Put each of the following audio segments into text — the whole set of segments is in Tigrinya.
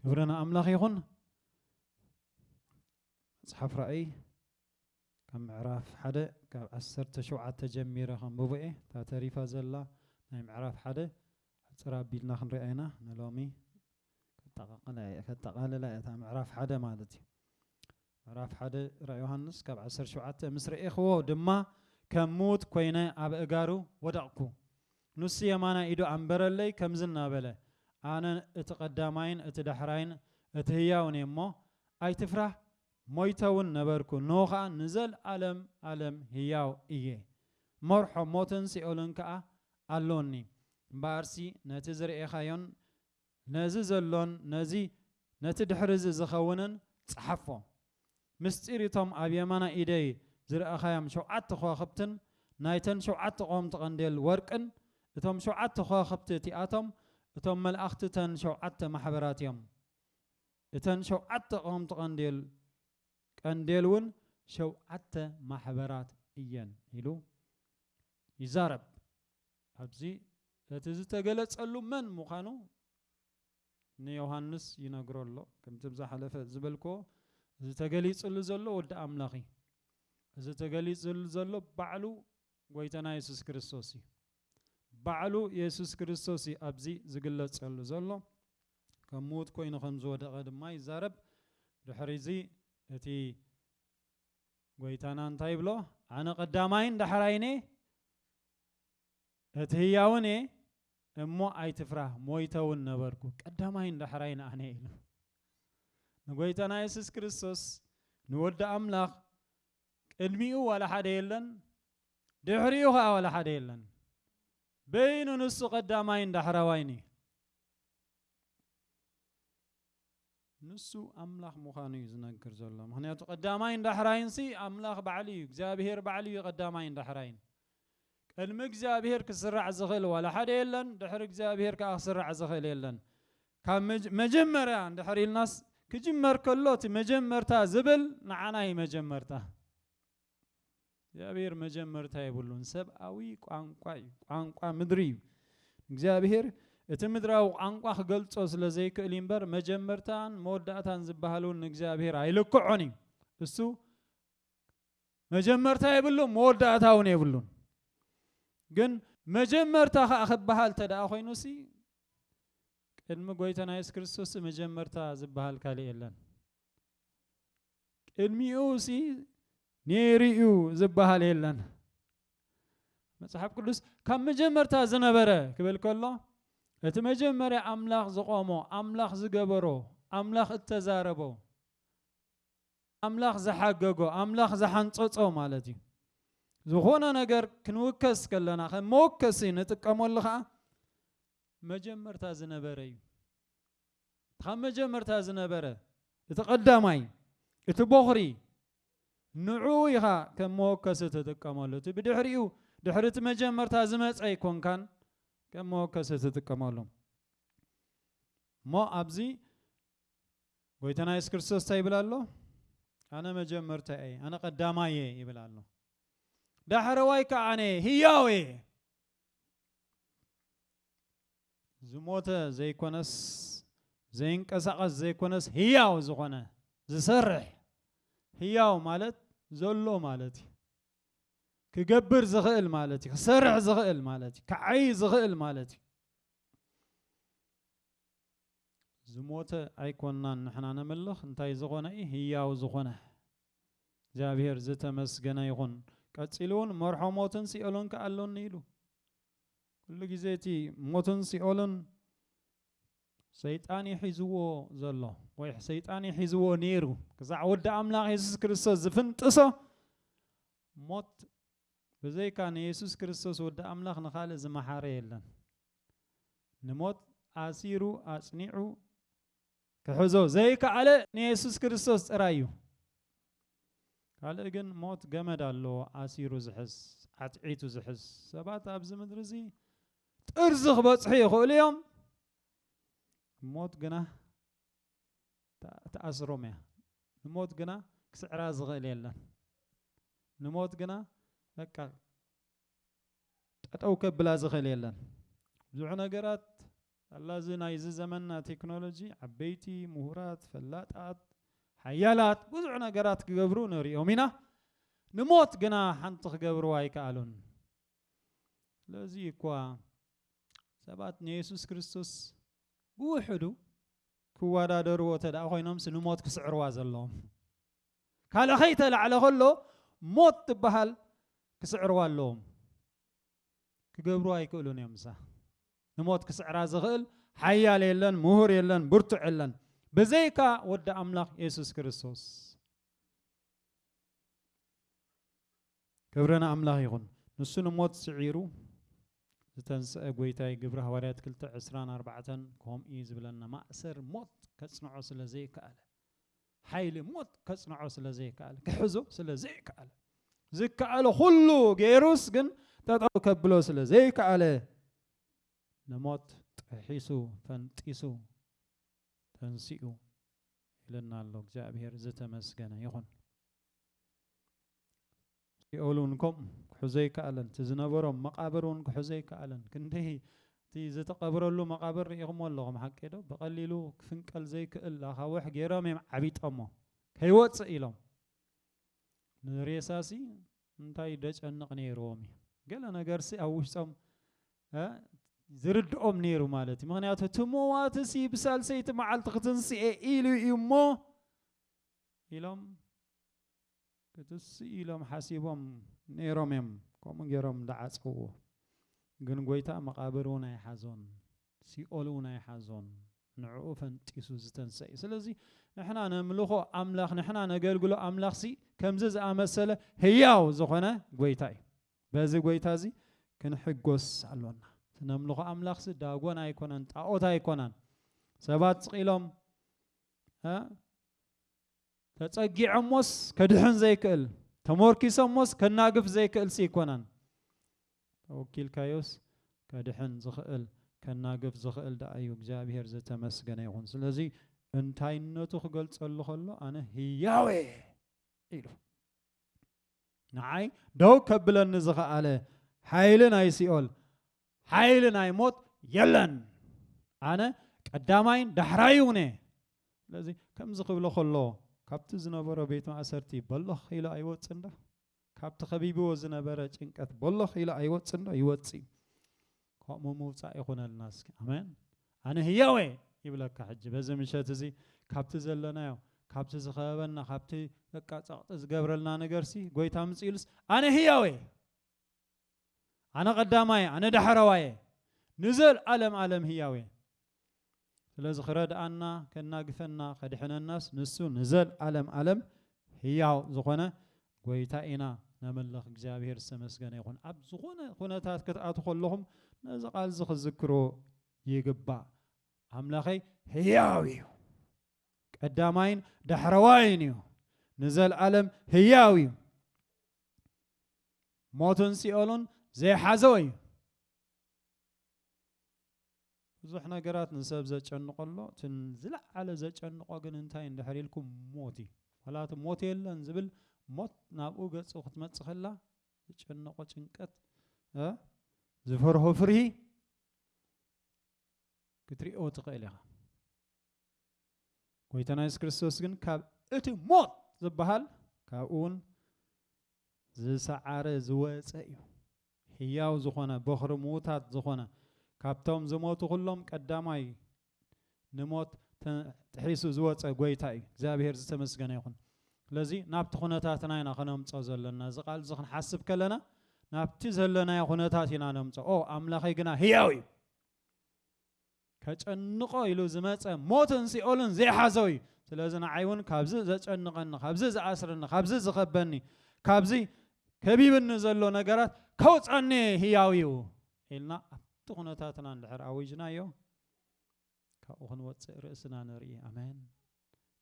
ክብሪ ንኣምላኽ ይኹን መፅሓፍ ራእይ ካብ ምዕራፍ ሓደ ካብ ዓሰርተ ሸውዓተ ጀሚረ ከንብቦ እየ እታ ተሪፋ ዘላ ናይ ምዕራፍ ሓደ ሕፅር ኣቢልና ክንሪኣ ኢና ንሎሚ ከጠቓልላ እያ እታ ምዕራፍ ሓደ ማለት እዩ ምዕራፍ ሓደ ራኢ ዮሃንስ ካብ ዓሰርተ ሸውዓተ ምስ ረኤክዎ ድማ ከም ምዉት ኮይነ ኣብ ኣእጋሩ ወደቕኩ። ንሱ የማናይ ኢዱ ኣንበረለይ ከምዚ እናበለ ኣነ እቲ ቀዳማይን እቲ ዳሕራይን እቲ ህያውን እየ እሞ ኣይትፍራህ ሞይተውን ነበርኩ እንሆ ከኣ ንዘልኣለም ኣለም ህያው እየ መርሖ ሞትን ሲኦልን ከኣ ኣሎኒ እምበኣርሲ ነቲ ዝርኤካዮን ነዚ ዘሎን ነዚ ነቲ ድሕሪ እዚ ዝኸውንን ጸሓፎ። ምስጢር እቶም ኣብ የማናይ ኢደይ ዝረኣኻዮም ሸውዓተ ኸዋኽብትን ናይተን ሸውዓተ ቀወምቲ ቐንዴል ወርቅን፣ እቶም ሸውዓተ ኸዋኽብቲ እቲኣቶም እቶም መላእኽቲ እተን ሸውዓተ ማሕበራት እዮም። እተን ሸውዓተ ቀወምቲ ቐንዴል ቀንዴልውን ሸውዓተ ማሕበራት እየን ኢሉ ይዛረብ። ኣብዚ እቲ ዝተገለጸሉ መን ምዃኑ ንዮሃንስ ይነግሮ ኣሎ። ከምቲ ኣብ ዝሓለፈ ዝበልክዎ እዚ ተገሊጽሉ ዘሎ ወዲ ኣምላኽ እዩ። እዚ ተገሊጽሉ ዘሎ ባዕሉ ጎይታና የሱስ ክርስቶስ እዩ። ባዕሉ የሱስ ክርስቶስ እዩ ኣብዚ ዝግለጸሉ ዘሎ። ከም ምዉት ኮይኑ ከም ዝወደቐ ድማ ይዛረብ። ድሕሪዚ እቲ ጎይታና እንታይ ይብሎ? ኣነ ቀዳማይን ዳሕራይን እየ፣ እቲ ህያውን እየ እሞ ኣይትፍራህ ሞይተ እውን ነበርኩ ቀዳማይን ዳሕራይን ኣነ ኢሉ ንጎይታና የሱስ ክርስቶስ ንወዲ ኣምላኽ ቅድሚኡ ዋላ ሓደ የለን ድሕሪኡ ከዓ ዋላ ሓደ የለን በይኑ ንሱ ቀዳማይን ዳሕራዋይን እዩ ንሱ ኣምላኽ ምዃኑ እዩ ዝነግር ዘሎ። ምኽንያቱ ቀዳማይን ዳሕራይንሲ ኣምላኽ ባዕሉ እዩ፣ እግዚኣብሄር ባዕሉ እዩ ቀዳማይን ዳሕራይን። ቅድሚ እግዚኣብሄር ክስራዕ ዝኽእል ዋላ ሓደ የለን፣ ድሕሪ እግዚኣብሄር ከኣ ክስራዕ ዝኽእል የለን። ካብ መጀመርያ እንድሕር ኢልናስ ክጅመር ከሎ እቲ መጀመርታ ዝብል ንዓና እዩ መጀመርታ። እግዚኣብሔር መጀመርታ የብሉን። ሰብኣዊ ቋንቋ እዩ፣ ቋንቋ ምድሪ እዩ። እግዚኣብሔር እቲ ምድራዊ ቋንቋ ክገልጾ ስለ ዘይክእል እምበር መጀመርታን መወዳእታን ዝበሃል እውን ንእግዚኣብሔር ኣይልክዖን እዩ። እሱ መጀመርታ የብሉን መወዳእታ እውን የብሉን። ግን መጀመርታ ከዓ ክበሃል ተደኣ ኮይኑ ሲ ቅድሚ ጎይታና የሱስ ክርስቶስ መጀመርታ ዝበሃል ካልእ የለን። ቅድሚኡ ሲ ነይሩ እዩ ዝበሃል የለን መጽሓፍ ቅዱስ ካብ መጀመርታ ዝነበረ ክብል ከሎ እቲ መጀመርያ ኣምላኽ ዝቖሞ ኣምላኽ ዝገበሮ ኣምላኽ እተዛረቦ ኣምላኽ ዝሓገጎ ኣምላኽ ዝሓንጸጾ ማለት እዩ ዝኾነ ነገር ክንውከስ ከለና ከም መወከሲ ንጥቀመሉ ከዓ መጀመርታ ዝነበረ እዩ ካብ መጀመርታ ዝነበረ እቲ ቀዳማይ እቲ ቦኽሪ ንዕኡ ኢኻ ከም መወከሲ ትጥቀመሉ እቲ ብድሕሪኡ ድሕሪ እቲ መጀመርታ ዝመጸ ኣይኮንካን ከም መወከሲ ትጥቀመሉ እሞ ኣብዚ ጎይታና የሱስ ክርስቶስ እንታይ ይብል ኣሎ ኣነ መጀመርታ እየ ኣነ ቀዳማይ እየ ይብል ኣሎ ዳሕረዋይ ከዓ ኣነ ህያው እየ ዝሞተ ዘይኮነስ ዘይንቀሳቐስ ዘይኮነስ ህያው ዝኾነ ዝሰርሕ ህያው ማለት ዘሎ ማለት እዩ። ክገብር ዝኽእል ማለት እዩ። ክሰርሕ ዝኽእል ማለት እዩ። ክዓይ ዝኽእል ማለት እዩ። ዝሞተ ኣይኮናን ንሕና ነምልኽ እንታይ ዝኾነ እዩ ህያው ዝኾነ እግዚኣብሔር ዝተመስገነ ይኹን ቀፂሉ እውን መርሖ ሞትን ሲኦልን ከኣሎኒ ኢሉ ኩሉ ግዜ እቲ ሞትን ሲኦልን ሰይጣን እዩ ሒዝዎ ዘሎ ወይ ሰይጣን እዩ ሒዝዎ ነይሩ ክሳዕ ወዲ ኣምላኽ የሱስ ክርስቶስ ዝፍንጥሶ ሞት ብዘይካ ንየሱስ ክርስቶስ ወዲ ኣምላኽ ንኻልእ ዝመሓረ የለን ንሞት ኣሲሩ ኣጽኒዑ ክሕዞ ዘይከኣለ ንየሱስ ክርስቶስ ጥራይ እዩ። ካልእ ግን ሞት ገመድ ኣለዎ ኣሲሩ ዝሕዝ ዓትዒቱ ዝሕዝ ሰባት ኣብዚ ምድሪ እዚ ጥርዚ ክበፅሑ ይኽእሉ እዮም ሞት ግና ተኣስሮም እያ ንሞት ግና ክስዕራ ዝኽእል የለን ንሞት ግና በቃ ጠጠው ከብላ ዝኽእል የለን። ብዙሕ ነገራት ኣላ እዚ ናይዚ ዘመንና ቴክኖሎጂ ዓበይቲ ምሁራት ፈላጣት ሓያላት ብዙሕ ነገራት ክገብሩ ንሪኦም ኢና ንሞት ግና ሓንቲ ክገብርዋ ኣይከኣሉን ስለዚ እኳ ሰባት ንየሱስ ክርስቶስ ብውሕዱ ክወዳደርዎ ተደኣ ኮይኖምስ ንሞት ክስዕርዋ ዘለዎም ካልእ ከይተላዕለ ከሎ ሞት ትበሃል ክስዕርዋ ኣለዎም። ክገብርዋ ኣይክእሉን እዮም እሳ ንሞት ክስዕራ ዝኽእል ሓያል የለን፣ ምሁር የለን፣ ብርቱዕ የለን ብዘይካ ወዲ ኣምላኽ የሱስ ክርስቶስ። ክብሪ ንኣምላኽ ይኹን። ንሱ ንሞት ስዒሩ ዝተንስአ ጎይታይ ግብሪ ሃዋርያት ክልተ ዕስራን ኣርባዕተን ከምኡ እዩ ዝብለና ማእሰር ሞት ከጽንዖ ስለ ዘይከኣለ ሓይሊ ሞት ከጽንዖ ስለ ዘይከኣለ ክሕዞ ስለ ዘይከኣለ ዝከኣለ ኩሉ ገይሩስ ግን ጠጠው ከብሎ ስለ ዘይከኣለ ንሞት ጥሒሱ ፈንጢሱ ተንሲኡ ይለና ኣሎ እግዚኣብሔር ዝተመስገነ ይኹን ሲኦል እውን ከምኡ ክሕዞ ኣይከኣለን፣ እቲ ዝነበሮም መቓብር እውን ክሕዞ ኣይከኣለን። ክንደይ እቲ ዝተቐብረሉ መቓብር ርኢኹምዎ ኣለኹም ሓቂዶ? ብቐሊሉ ክፍንቀል ዘይክእል ኣኻውሕ ገይሮም እዮም ዓቢጦሞ፣ ከይወጽእ ኢሎም። ንሬሳሲ እንታይ ደጨንቕ ነይርዎም እዩ? ገለ ነገርሲ ኣብ ውሽጦም ዝርድኦም ነይሩ ማለት እዩ። ምክንያቱ እቲ ምዋትሲ ብሳልሰይቲ መዓልቲ ክትንስኤ ኢሉ እዩ እሞ ኢሎም ክትስእ ኢሎም ሓሲቦም ነይሮም እዮም ከምኡ ገይሮም ዝዓጸውዎ ግን ጎይታ መቓብር እውን ኣይሓዞን ሲኦል እውን ኣይሓዞን ንዕኡ ፈንጢሱ ዝተንሰ እዩ ስለዚ ንሕና ነምልኾ ኣምላኽ ንሕና ነገልግሎ ኣምላኽሲ ከምዚ ዝኣመሰለ ህያው ዝኾነ ጎይታ እዩ በዚ ጎይታ እዚ ክንሕጎስ ኣሎና ነምልኾ ኣምላኽሲ ዳጎን ኣይኮነን ጣዖት ኣይኮነን ሰባት ስቒሎም ተጸጊዖሞስ ከድሕን ዘይክእል ተሞርኪሶሞስ ከናግፍ ዘይክእልሲ ይኮናን ተወኪልካዮስ ከድሕን ዝኽእል ከናግፍ ዝኽእል ደኣ እዩ እግዚኣብሄር ዘተመስገነ ይኹን ስለዚ እንታይነቱ ክገልጸሉ ከሎ ኣነ ህያወ ኢሉ ንዓይ ደው ከብለኒ ዝኸኣለ ሓይሊ ናይ ሲኦል ሓይሊ ናይ ሞት የለን ኣነ ቀዳማይን ዳሕራይ እውነ ስለዚ ከምዚ ክብሎ ከሎ ካብቲ ዝነበሮ ቤት ማእሰርቲ በሎኽ ኢሉ ኣይወፅን ዶ ካብቲ ከቢብዎ ዝነበረ ጭንቀት በሎኽ ኢሉ ኣይወፅን ዶ ይወፅእ ከምኡ ምውጻእ ይኹነልና እስኪ ኣሜን ኣነ ህያው እየ ይብለካ ሕጂ በዚ ምሸት እዚ ካብቲ ዘለናዮ ካብቲ ዝኸበበና ካብቲ በቃ ጸቕጢ ዝገብረልና ነገርሲ ጎይታ ምጽ ኢሉስ ኣነ ህያው እየ ኣነ ቀዳማየ ኣነ ዳሕረዋየ ንዘልኣለም ኣለም ህያው እየ ስለዚ ክረድኣና ከናግፈና ከድሕነናስ ንሱ ንዘልኣለም ኣለም ህያው ዝኾነ ጎይታ ኢና ነምልኽ እግዚኣብሔር ዝተመስገነ ይኹን። ኣብ ዝኾነ ኩነታት ክትኣቱ ከለኹም ነዚ ቃልዚ ክዝክሮ ይግባእ ኣምላኸይ ህያው እዩ ቀዳማይን ዳሕረዋይን እዩ ንዘልኣለም ህያው እዩ ሞትን ሲኦሉን ዘይሓዘወ እዩ ብዙሕ ነገራት ንሰብ ዘጨንቆ ኣሎ እቲ ዝለዓለ ዘጨንቆ ግን እንታይ እንድሕር ኢልኩም ሞት እዩ ዋላ እቲ ሞት የለን ዝብል ሞት ናብኡ ገጹ ክትመጽእ ከላ ዘጨንቆ ጭንቀት ዝፈርሆ ፍርሂ ክትሪኦ ትኽእል ኢኻ ጎይታና የሱስ ክርስቶስ ግን ካብ እቲ ሞት ዝበሃል ካብኡ እውን ዝሰዓረ ዝወጸ እዩ ሕያው ዝኾነ ቦኽሪ ምዉታት ዝኾነ ካብቶም ዝሞቱ ኩሎም ቀዳማይ ንሞት ጥሒሱ ዝወጸ ጎይታ እዩ እግዚኣብሔር ዝተመስገነ ይኹን ስለዚ ናብቲ ኩነታትና ኢና ከነምጾ ዘለና እዚ ቃል እዚ ክንሓስብ ከለና ናብቲ ዘለናዮ ኩነታት ኢና ነምጾ ኦ ኣምላኸይ ግና ህያው እዩ ከጨንቆ ኢሉ ዝመጸ ሞትን ሲኦልን ዘይሓዞ እዩ ስለዚ ንዓይ እውን ካብዚ ዘጨንቐኒ ካብዚ ዝኣስረኒ ካብዚ ዝኸበኒ ካብዚ ከቢብኒ ዘሎ ነገራት ከውፀኒ ህያው እዩ ኢልና ኣብቲ ኩነታትና እንድሕር ኣዊጅናዮ ካብኡ ክንወፅእ ርእስና ንርኢ ኣሜን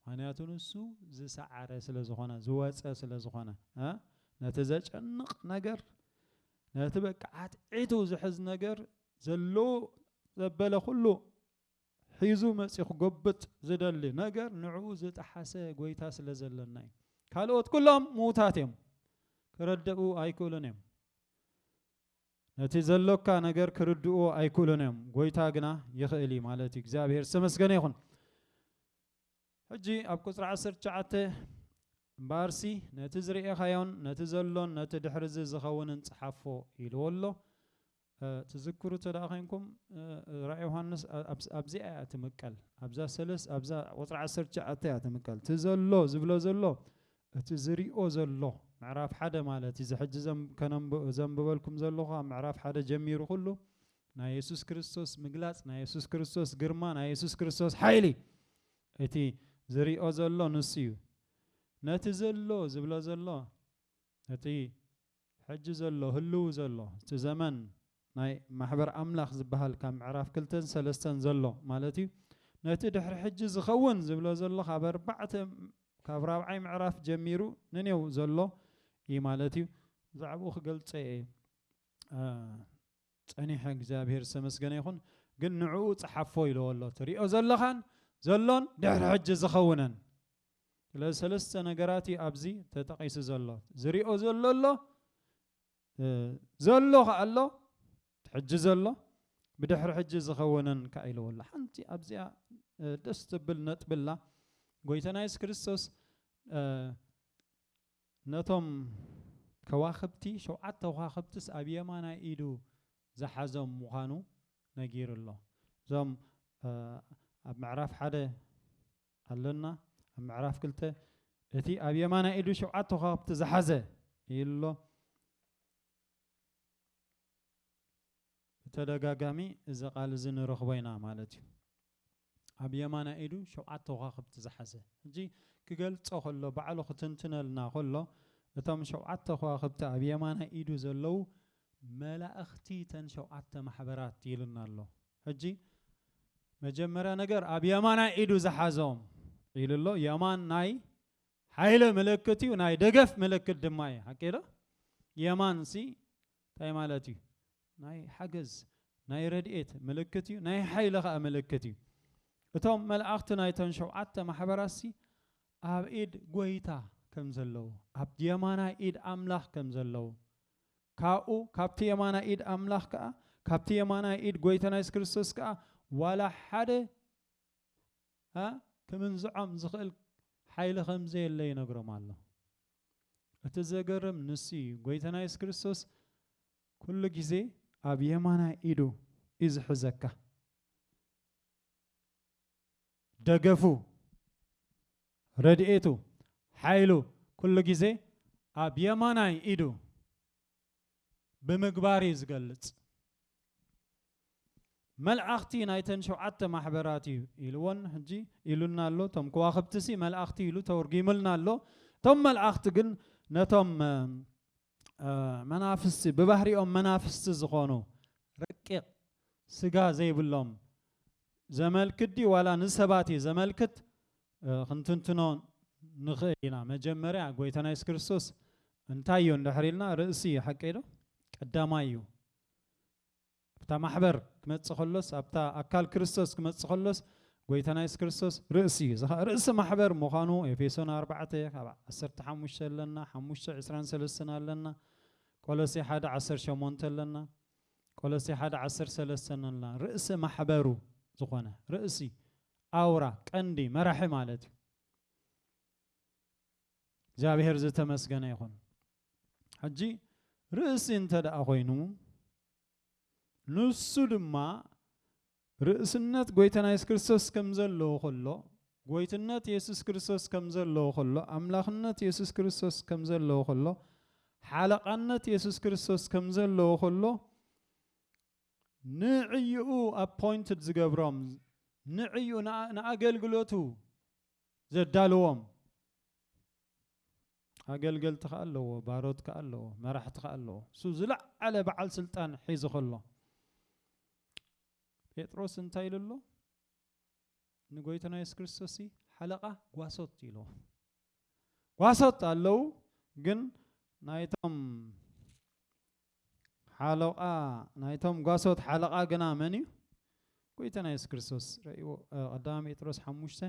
ምክንያቱ ንሱ ዝሰዓረ ስለ ዝኾነ ዝወጸ ስለ ዝኾነ እ ነቲ ዘጨንቕ ነገር ነቲ በቃ ዓትዒቱ ዝሕዝ ነገር ዘለዎ ዘበለ ኩሉ ሒዙ መጺኡ ክጎብጥ ዝደሊ ነገር ንዕኡ ዝጠሓሰ ጎይታ ስለ ዘለና እዩ ካልኦት ኩሎም ምዉታት እዮም ክረደኡ ኣይክእሉን እዮም ነቲ ዘሎካ ነገር ክርድእዎ ኣይክእሉን እዮም ጎይታ ግና ይኽእል እዩ ማለት እዩ እግዚኣብሔር ዝተመስገነ ይኹን ሕጂ ኣብ ቁፅሪ ዓሰርተ ትሽዓተ እምበኣርሲ ነቲ ዝርኤኻዮን ነቲ ዘሎን ነቲ ድሕሪ እዚ ዝኸውንን ፀሓፎ ኢልዎ ኣሎ ትዝክሩ እተ ደኣ ኮንኩም ራእይ ዮሃንስ ኣብዚኣ እያ ትምቀል ኣብዛ ሰለስ ኣብዛ ቁፅሪ ዓሰርተ ትሽዓተ እያ ትምቀል እቲ ዘሎ ዝብሎ ዘሎ እቲ ዝሪኦ ዘሎ ምዕራፍ ሓደ ማለት እዚ ሕጂ ዘንብበልኩም ዘለኹ ካብ ምዕራፍ ሓደ ጀሚሩ ኩሉ ናይ የሱስ ክርስቶስ ምግላጽ ናይ የሱስ ክርስቶስ ግርማ ናይ የሱስ ክርስቶስ ሓይሊ እቲ ዝሪኦ ዘሎ ንሱ እዩ ነቲ ዘሎ ዝብሎ ዘሎ ነቲ ሕጂ ዘሎ ህልዉ ዘሎ እቲ ዘመን ናይ ማሕበር ኣምላኽ ዝበሃል ካብ ምዕራፍ ክልተን ሰለስተን ዘሎ ማለት እዩ ነቲ ድሕሪ ሕጂ ዝኸውን ዝብሎ ዘሎ ካብ ኣርባዕተ ካብ ራብዓይ ምዕራፍ ጀሚሩ ንኔው ዘሎ እዩ ማለት እዩ ብዛዕብኡ ክገልጸ እየ ጸኒሐ እግዚኣብሄር ዝተመስገነ ይኹን ግን ንዕኡ ጸሓፎ ኢለዎ ኣሎ ትሪኦ ዘለኻን ዘሎን ድሕሪ ሕጂ ዝኸውነን ስለዚ ሰለስተ ነገራት እዩ ኣብዚ ተጠቒሱ ዘሎ ዝሪኦ ዘሎ ኣሎ ዘሎ ከኣ ኣሎ ሕጂ ዘሎ ብድሕሪ ሕጂ ዝኸውነን ከኣ ኢለዎ ኣሎ ሓንቲ ኣብዚኣ ደስ ትብል ነጥብላ ጎይታና የሱስ ክርስቶስ ነቶም ከዋኽብቲ፣ ሸውዓተ ዃኽብትስ ኣብ የማናይ ኢዱ ዝሓዞም ምዃኑ ነጊሩ ኣሎ። እዞም ኣብ ምዕራፍ ሓደ ኣሎና፣ ኣብ ምዕራፍ ክልተ እቲ ኣብ የማናይ ኢዱ ሸውዓተ ዃኽብቲ ዝሓዘ ኢሉ ኣሎ። ብተደጋጋሚ እዚ ቃል እዚ ንረኽቦ ኢና ማለት እዩ። ኣብ የማናይ ኢዱ ሸውዓተ ኮኻኽብቲ ዝሓዘ ሕጂ ክገልጾ ከሎ ባዕሉ ክትንትነልና ከሎ እቶም ሸውዓተ ኮዋኽብቲ ኣብ የማናይ ኢዱ ዘለዉ መላእኽቲ ተን ሸውዓተ ማሕበራት ኢሉና ኣሎ ሕጂ መጀመርያ ነገር ኣብ የማናይ ኢዱ ዝሓዞም ኢሉ ኣሎ የማን ናይ ሓይለ ምልክት እዩ ናይ ደገፍ ምልክት ድማ እዩ ሓቂዶ የማንሲ እንታይ ማለት እዩ? ናይ ሓገዝ፣ ናይ ረድኤት ምልክት እዩ፣ ናይ ሓይሊ ኸኣ ምልክት እዩ። እቶም መላእኽቲ ናይተን ሸውዓተ ማሕበራትሲ ኣብ ኢድ ጐይታ ከም ዘለዉ፣ ኣብ የማናይ ኢድ ኣምላኽ ከም ዘለዉ፣ ካብኡ ካብቲ የማናይ ኢድ ኣምላኽ ከኣ ካብቲ የማናይ ኢድ ጐይታና የሱስ ክርስቶስ ከኣ ዋላ ሓደ እ ክምንዝዖም ዝኽእል ሓይሊ ከም ዘየለ ይነግሮም ኣሎ። እቲ ዘገርም ንሱ እዩ ጎይታና የሱስ ክርስቶስ ኩሉ ግዜ ኣብ የማናይ ኢዱ እዩ ዝሕዘካ ደገፉ ረድኤቱ ሓይሉ ኩሉ ግዜ ኣብ የማናይ ኢዱ ብምግባር እዩ ዝገልጽ። መልኣኽቲ ናይተን ሸውዓተ ማሕበራት እዩ ኢልዎን ሕጂ ኢሉና ኣሎ። እቶም ከዋኽብቲሲ መልኣኽቲ ኢሉ ተወርጊሙልና ኣሎ። እቶም መልኣኽቲ ግን ነቶም መናፍስቲ ብባህሪኦም መናፍስቲ ዝኾኑ ረቂቕ ስጋ ዘይብሎም ዘመልክት ድዩ ዋላ ንሰባት እዩ ዘመልክት ክንትንትኖ ንኽእል ኢና። መጀመርያ ጎይታና የሱስ ክርስቶስ እንታይ እዩ እንድሕር ኢልና ርእሲ እዩ ሓቀይ ዶ? ቀዳማይ እዩ። ኣብታ ማሕበር ክመጽእ ከሎስ ኣብታ ኣካል ክርስቶስ ክመጽእ ከሎስ ጎይታና የሱስ ክርስቶስ ርእሲ እዩ። እዚ ኸኣ ርእሲ ማሕበር ምዃኑ ኤፌሶን ኣርባዕተ ካብ ዓሰርተ ሓሙሽተ ኣለና፣ ሓሙሽተ ዕስራን ሰለስተን ኣለና፣ ቆሎሴ ሓደ ዓሰርተ ሸሞንተ ኣለና፣ ቆሎሴ ሓደ ዓሰርተ ሰለስተን ኣለና። ርእሲ ማሕበሩ ዝኾነ ርእሲ ኣውራ ቀንዲ መራሒ ማለት እዩ። እግዚኣብሔር ዝተመስገነ ይኹን። ሕጂ ርእሲ እንተ ደኣ ኮይኑ ንሱ ድማ ርእስነት ጎይታና የሱስ ክርስቶስ ከም ዘለዎ ከሎ ጎይትነት የሱስ ክርስቶስ ከም ዘለዎ ከሎ ኣምላኽነት የሱስ ክርስቶስ ከም ዘለዎ ከሎ ሓለቓነት የሱስ ክርስቶስ ከም ዘለዎ ከሎ ንዕኡ ኣፖይንትድ ዝገብሮም፣ ንዕኡ ንኣገልግሎቱ ዘዳልዎም ኣገልገልቲ ከኣ ኣለዎ፣ ባሮት ከኣ ኣለዎ፣ መራሕቲ ከኣ ኣለዎ። እሱ ዝለዓለ በዓል ስልጣን ሒዙ ከሎ ጴጥሮስ እንታይ ኢሉ ኣሎ? ንጎይታና የሱስ ክርስቶስ ሓለቃ ጓሶት ኢልዎ ጓሶት ኣለዉ ግን ናይቶም ሓሎቓ ናይቶም ጓሶት ሓለቓ ግና መን እዩ? ጎይታና የሱስ ክርስቶስ ረእዎ ቀዳማ ጴጥሮስ ሓሙሽተ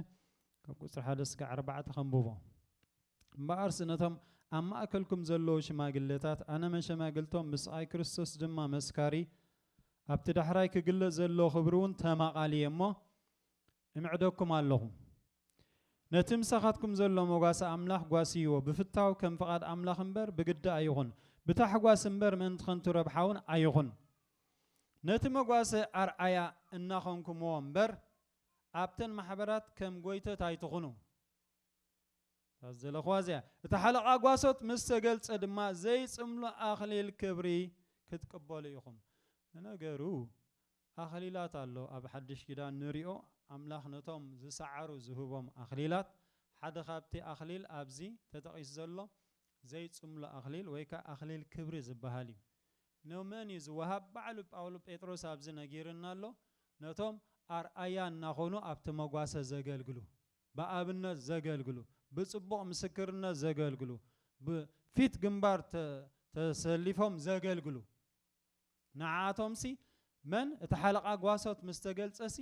ካብ ቁፅሪ ሓደ ስጋ ኣርባዕተ ከንብቦ እምበኣርስ ነቶም ኣብ ማእከልኩም ዘለዉ ሽማግለታት ኣነ መሸማግልቶም ምስቓይ ክርስቶስ ድማ መስካሪ ኣብቲ ዳሕራይ ክግለጽ ዘሎ ክብሪ እውን ተማቓሊ እሞ እምዕደኩም ኣለኹ ነቲ ምሳኻትኩም ዘሎ መጓሰ ኣምላኽ ጓስይዎ፣ ብፍታው ከም ፍቓድ ኣምላኽ እምበር ብግዲ ኣይኹን፣ ብታሕጓስ እምበር ምእንቲ ኸንቱ ረብሓውን ኣይኹን። ነቲ መጓሰ ኣርኣያ እናኾንኩምዎ እምበር፣ ኣብተን ማሕበራት ከም ጐይቶት ኣይትኹኑ። እታ ዝደለኽዋ እዚኣ እያ። እቲ ሓለቓ ጓሶት ምስ ተገልጸ ድማ ዘይጽምሉ ኣኽሊል ክብሪ ክትቅበሉ ኢኹም። ንነገሩ ኣኽሊላት ኣሎ ኣብ ሓድሽ ኪዳን ንሪኦ ኣምላኽ ነቶም ዝሰዓሩ ዝህቦም ኣኽሊላት ሓደ ካብቲ ኣኽሊል ኣብዚ ተጠቒሱ ዘሎ ዘይጽምሎ ኣኽሊል ወይ ከኣ ኣኽሊል ክብሪ ዝበሃል እዩ ንመን እዩ ዝወሃብ ባዕሉ ጳውሎ ጴጥሮስ ኣብዚ ነጊርና ኣሎ ነቶም ኣርኣያ እናኾኑ ኣብቲ መጓሰ ዘገልግሉ ብኣብነት ዘገልግሉ ብጽቡቕ ምስክርነት ዘገልግሉ ብፊት ግንባር ተሰሊፎም ዘገልግሉ ንዓኣቶምሲ መን እቲ ሓለቓ ጓሶት ምስ ተገልጸሲ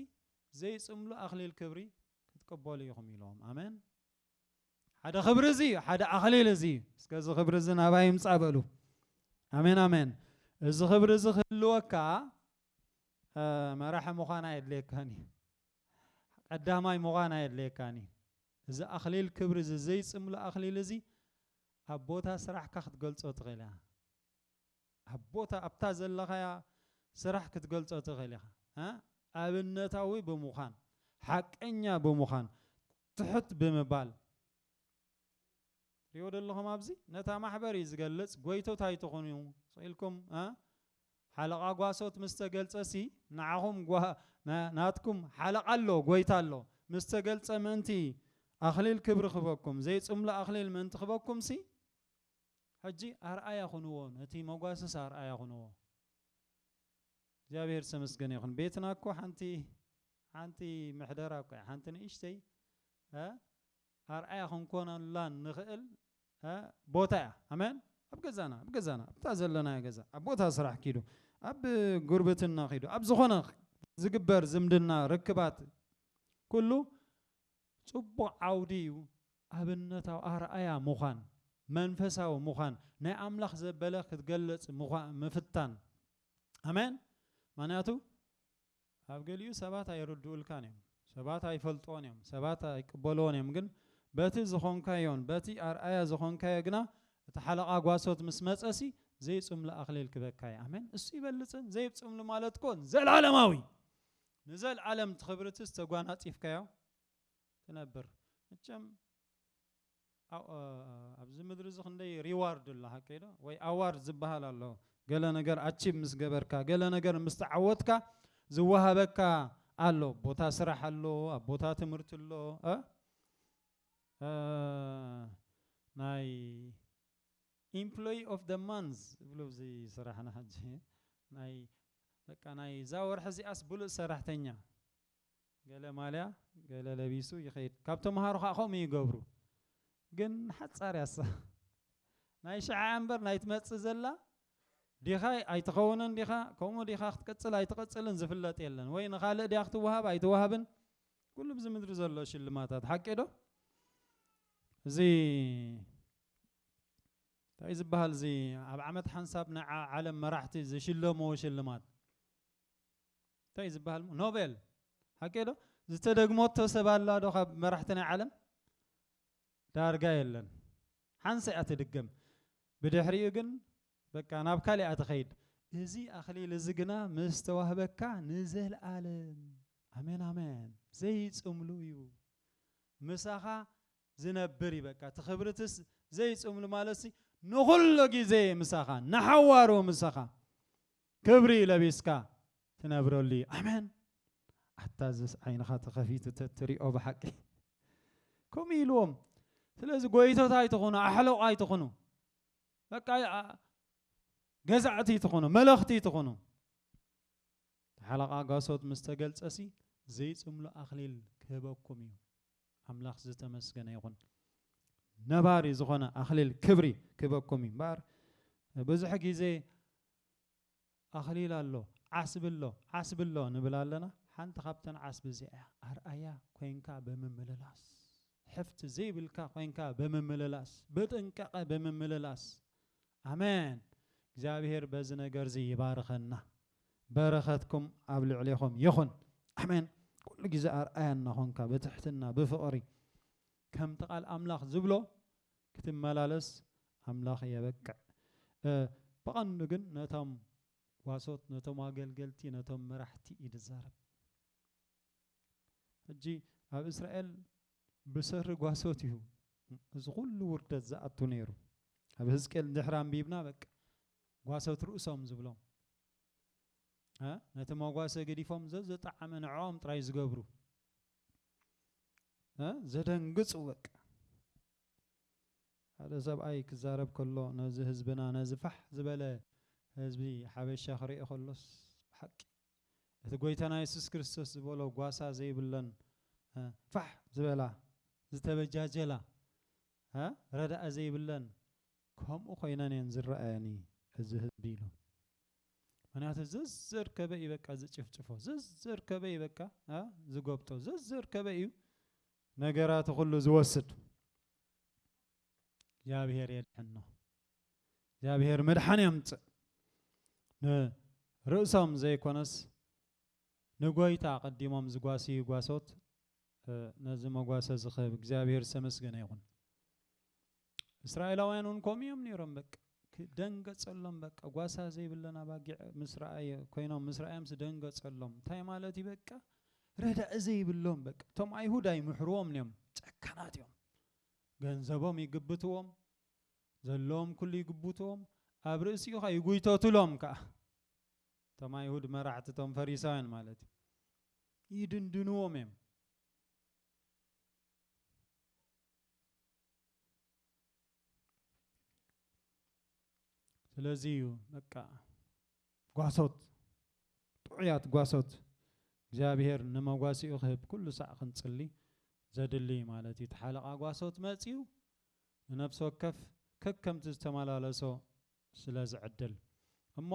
ዘይጽምሉ ኣኽሊል ክብሪ ክትቅበሉ ኢኹም ኢሎም። ኣመን። ሓደ ክብሪ እዚ እዩ፣ ሓደ ኣኽሊል እዚ እዩ። እስከ እዚ ክብሪ እዚ ናባይ ይምጻእ በሉ። ኣሜን ኣሜን። እዚ ክብሪ እዚ ክህልወካ መራሒ ምዃን ኣየድልየካን እዩ፣ ቀዳማይ ምዃን ኣየድልየካን እዩ። እዚ ኣኽሊል ክብሪ እዚ ዘይጽምሉ ኣኽሊል እዚ ኣብ ቦታ ስራሕካ ክትገልጾ ትኽእል እያ። ኣብ ቦታ ኣብታ ዘለኻያ ስራሕ ክትገልጾ ትኽእል ኢኻ። ኣብነታዊ ብምዃን፣ ሓቀኛ ብምዃን፣ ትሑት ብምባል። ትሪእዎ ዶ ኣለኹም ኣብዚ? ነታ ማሕበር እዩ ዝገልጽ፣ ጎይቶት ኣይትኹኑ ኢልኩም ሓለቓ ጓሶት ምስ ተገልጸሲ ንዓኹም ናትኩም ሓለቓ ኣሎ፣ ጎይታ ኣሎ፣ ምስ ተገልጸ ምእንቲ ኣኽሊል ክብሪ ክህበኩም፣ ዘይጽምሉ ኣኽሊል ምእንቲ ክህበኩምሲ፣ ሕጂ ኣርኣያ ኩንዎ ነቲ መጓሰስ ኣርኣያ ኩንዎ። እግዚኣብሔር ዝተመስገነ ይኹን ቤትና እኮ ሓንቲ ሓንቲ ምሕደራ እኮ እያ ሓንቲ ንእሽተይ ኣርኣያ ክንኮነላ ንኽእል ቦታ እያ ኣሜን ኣብ ገዛና ኣብ ገዛና ኣብታ ዘለናዮ ገዛ ኣብ ቦታ ስራሕ ኪዱ ኣብ ጉርብትና ኪዱ ኣብ ዝኾነ ዝግበር ዝምድና ርክባት ኩሉ ጽቡቕ ዓውዲ እዩ፣ ኣብነታዊ ኣርኣያ ምዃን፣ መንፈሳዊ ምዃን፣ ናይ ኣምላኽ ዘበለ ክትገለጽ ምፍታን። ኣሜን። ምኽንያቱ ኣብ ገሊኡ ሰባት ኣይርድኡልካን እዮም፣ ሰባት ኣይፈልጥዎን እዮም፣ ሰባት ኣይቅበልዎን እዮም፣ ግን በቲ ዝኾንካዮን በቲ ኣርኣያ ዝኾንካዮ ግና እቲ ሓለቓ ጓሶት ምስ መጸሲ ዘይጽምሉ ኣኽሊል ክበካ እዩ። ኣሜን። እሱ ይበልጽ። ዘይብጽምሉ ማለት እኮ ዘላለማዊ ንዘልኣለም እቲ ክብርትስ ተጓናጺፍካዮ ትነብር መቸም ኣብዚ ምድሪ እዚ ክንደይ ሪዋርድ ኣሎ ሓቀይ ዶ ወይ ኣዋርድ ዝበሃል ኣሎ ገለ ነገር ኣቺቭ ምስ ገበርካ ገለ ነገር ምስ ተዓወትካ ዝወሃበካ ኣሎ ቦታ ስራሕ ኣሎ ኣብ ቦታ ትምህርቲ ኣሎ ናይ Employee of the month ዝብሉ ኣብዚ ስራሕና ሕጂ ናይ በቃ ናይ እዛ ወርሒ እዚኣስ ብሉጽ ሰራሕተኛ ገለ ማልያ ገለ ለቢሱ ይኸይድ ካብ ተምሃሮ ከኣ ከምኡ ይገብሩ ግን ሓጻር እያ እሳ ናይ ሽዓ እምበር ናይ ትመጽእ ዘላ ዲኻ ኣይትኸውንን ዲኻ ከምኡ ዲኻ ክትቅጽል ኣይትቕጽልን ዝፍለጥ የለን ወይ ንኻልእ ድያ ክትወሃብ ኣይትወሃብን ኩሉ ብዚ ምድሪ ዘሎ ሽልማታት ሓቂ ዶ እዚ ታይ ዝባሃል እዚ ኣብ ዓመት ሓንሳብ ናይ ዓለም መራሕቲ ዝሽለምዎ ሽልማት ታይ ዝባሃል ኖቤል ሓቂ ዶ ዝተደግመቶ ሰብ ኣላ ዶ ካብ መራሕቲ ናይ ዓለም ዳርጋ የለን ሓንሳ እያ ትድገም ብድሕሪኡ ግን በቃ ናብ ካልኣ ትኸይድ እዚ ኣኽሊል እዚ ግና ምስ ተዋህበካ ንዘለኣለም ኣሜን ኣሜን ዘይጽምሉ እዩ ምሳኻ ዝነብር እዩ በቃ እቲ ክብርትስ ዘይጽምሉ ማለትሲ ንኹሉ ግዜ ምሳኻ ንሓዋሩ ምሳኻ ክብሪ ለቢስካ ትነብረሉ እዩ ኣሜን ኣታ ዝስ ዓይንኻ ተኸፊቱ ተትሪኦ ብሓቂ ከምኡ ኢልዎም ስለዚ ጎይቶት ኣይትኹኑ ኣሕለቑ ኣይትኹኑ በቃ ገዛዕቲ ይትኹኑ መለኽቲ ይትኹኑ ሓለቓ ጋሶት ምስ ተገልጸሲ ዘይጽምሉ ኣኽሊል ክህበኩም እዩ ኣምላኽ ዝተመስገነ ይኹን ነባሪ ዝኾነ ኣኽሊል ክብሪ ክበኩም እዩ እምበኣር ብዙሕ ግዜ ኣኽሊል ኣሎ ዓስቢ ኣሎ ዓስቢ ኣሎ ንብል ኣለና ሓንቲ ካብተን ዓስቢ እዚኣ እያ ኣርኣያ ኮንካ ብምምልላስ ሕፍቲ ዘይብልካ ኮንካ ብምምልላስ ብጥንቃቐ ብምምልላስ ኣሜን እግዚኣብሔር በዚ ነገርዚ ይባርኸና በረኸትኩም ኣብ ልዕሌኹም ይኹን ኣሜን ኩሉ ግዜ ኣርኣያ እናኾንካ ብትሕትና ብፍቕሪ ከምቲ ቃል ኣምላኽ ዝብሎ ክትመላለስ ኣምላኽ የበቅዕ ብቐንዱ ግን ነቶም ጓሶት ነቶም ኣገልገልቲ ነቶም መራሕቲ እዩ ዝዛረብ ሕጂ ኣብ እስራኤል ብሰሪ ጓሶት እዩ እዚ ኩሉ ውርደት ዝኣቱ ነይሩ ኣብ ህዝቅኤል ድሕሪ ኣንቢብና በቃ ጓሶት ርእሶም ዝብሎም ነቲ መጓሰ ገዲፎም ዘዘጠዓመ ንዕኦም ጥራይ ዝገብሩ ዘደንግጹ በቃ ሓደ ሰብኣይ ክዛረብ ከሎ ነዚ ህዝብና ነዚ ፋሕ ዝበለ ህዝቢ ሓበሻ ክርኢ ከሎስ ብሓቂ እቲ ጎይታና የሱስ ክርስቶስ ዝበሎ ጓሳ ዘይብለን ፋሕ ዝበላ ዝተበጃጀላ ረዳኢ ዘይብለን ከምኡ ኮይነን እየን ዝረኣየኒ እዚ ህዝቢ ኢሉ ምክንያቱ ዘዘርከበ እዩ በቃ ዝጭፍጭፎ ዘዘርከበ እዩ በቃ ዝጎብጦ ዘዘርከበ እዩ ነገራት ኩሉ ዝወስድ እግዚኣብሔር የድሕኖ እግዚኣብሔር መድሓን የምፅእ ንርእሶም ዘይኮነስ ንጎይታ ቀዲሞም ዝጓስዩ ጓሶት ነዚ መጓሰ ዝኽህብ እግዚኣብሔር ዝተመስገነ ይኹን። እስራኤላውያን እውን ከምኡ እዮም ነይሮም። በቃ ደንገፀሎም፣ በቃ ጓሳ ዘይብለን ኣባጊዕ ምስ ረኣየ ኮይኖም ምስ ረኣዮምስ ደንገፀሎም። እንታይ ማለት እዩ? በቃ ረዳኢ ዘይብሎም በቃ እቶም ኣይሁድ ኣይምሕርዎም እዮም፣ ጨካናት እዮም። ገንዘቦም ይግብትዎም ዘሎዎም ኩሉ ይግቡትዎም፣ ኣብ ርእሲኡኻ ይጉይተቱሎም ከኣ። እቶም ኣይሁድ መራሕቲ እቶም ፈሪሳውያን ማለት እዩ። ይድንድንዎም እዮም። ስለዚ እዩ በቃ ጓሶት ጥዑያት ጓሶት እግዚኣብሔር ንመጓሲኡ ክህብ ኩሉ ሳዕ ክንጽሊ ዘድልይ ማለት እዩ። እቲ ሓለቓ ጓሶት መጺኡ ንነፍሲ ወከፍ ከከምቲ ዝተመላለሶ ስለ ዝዕድል እሞ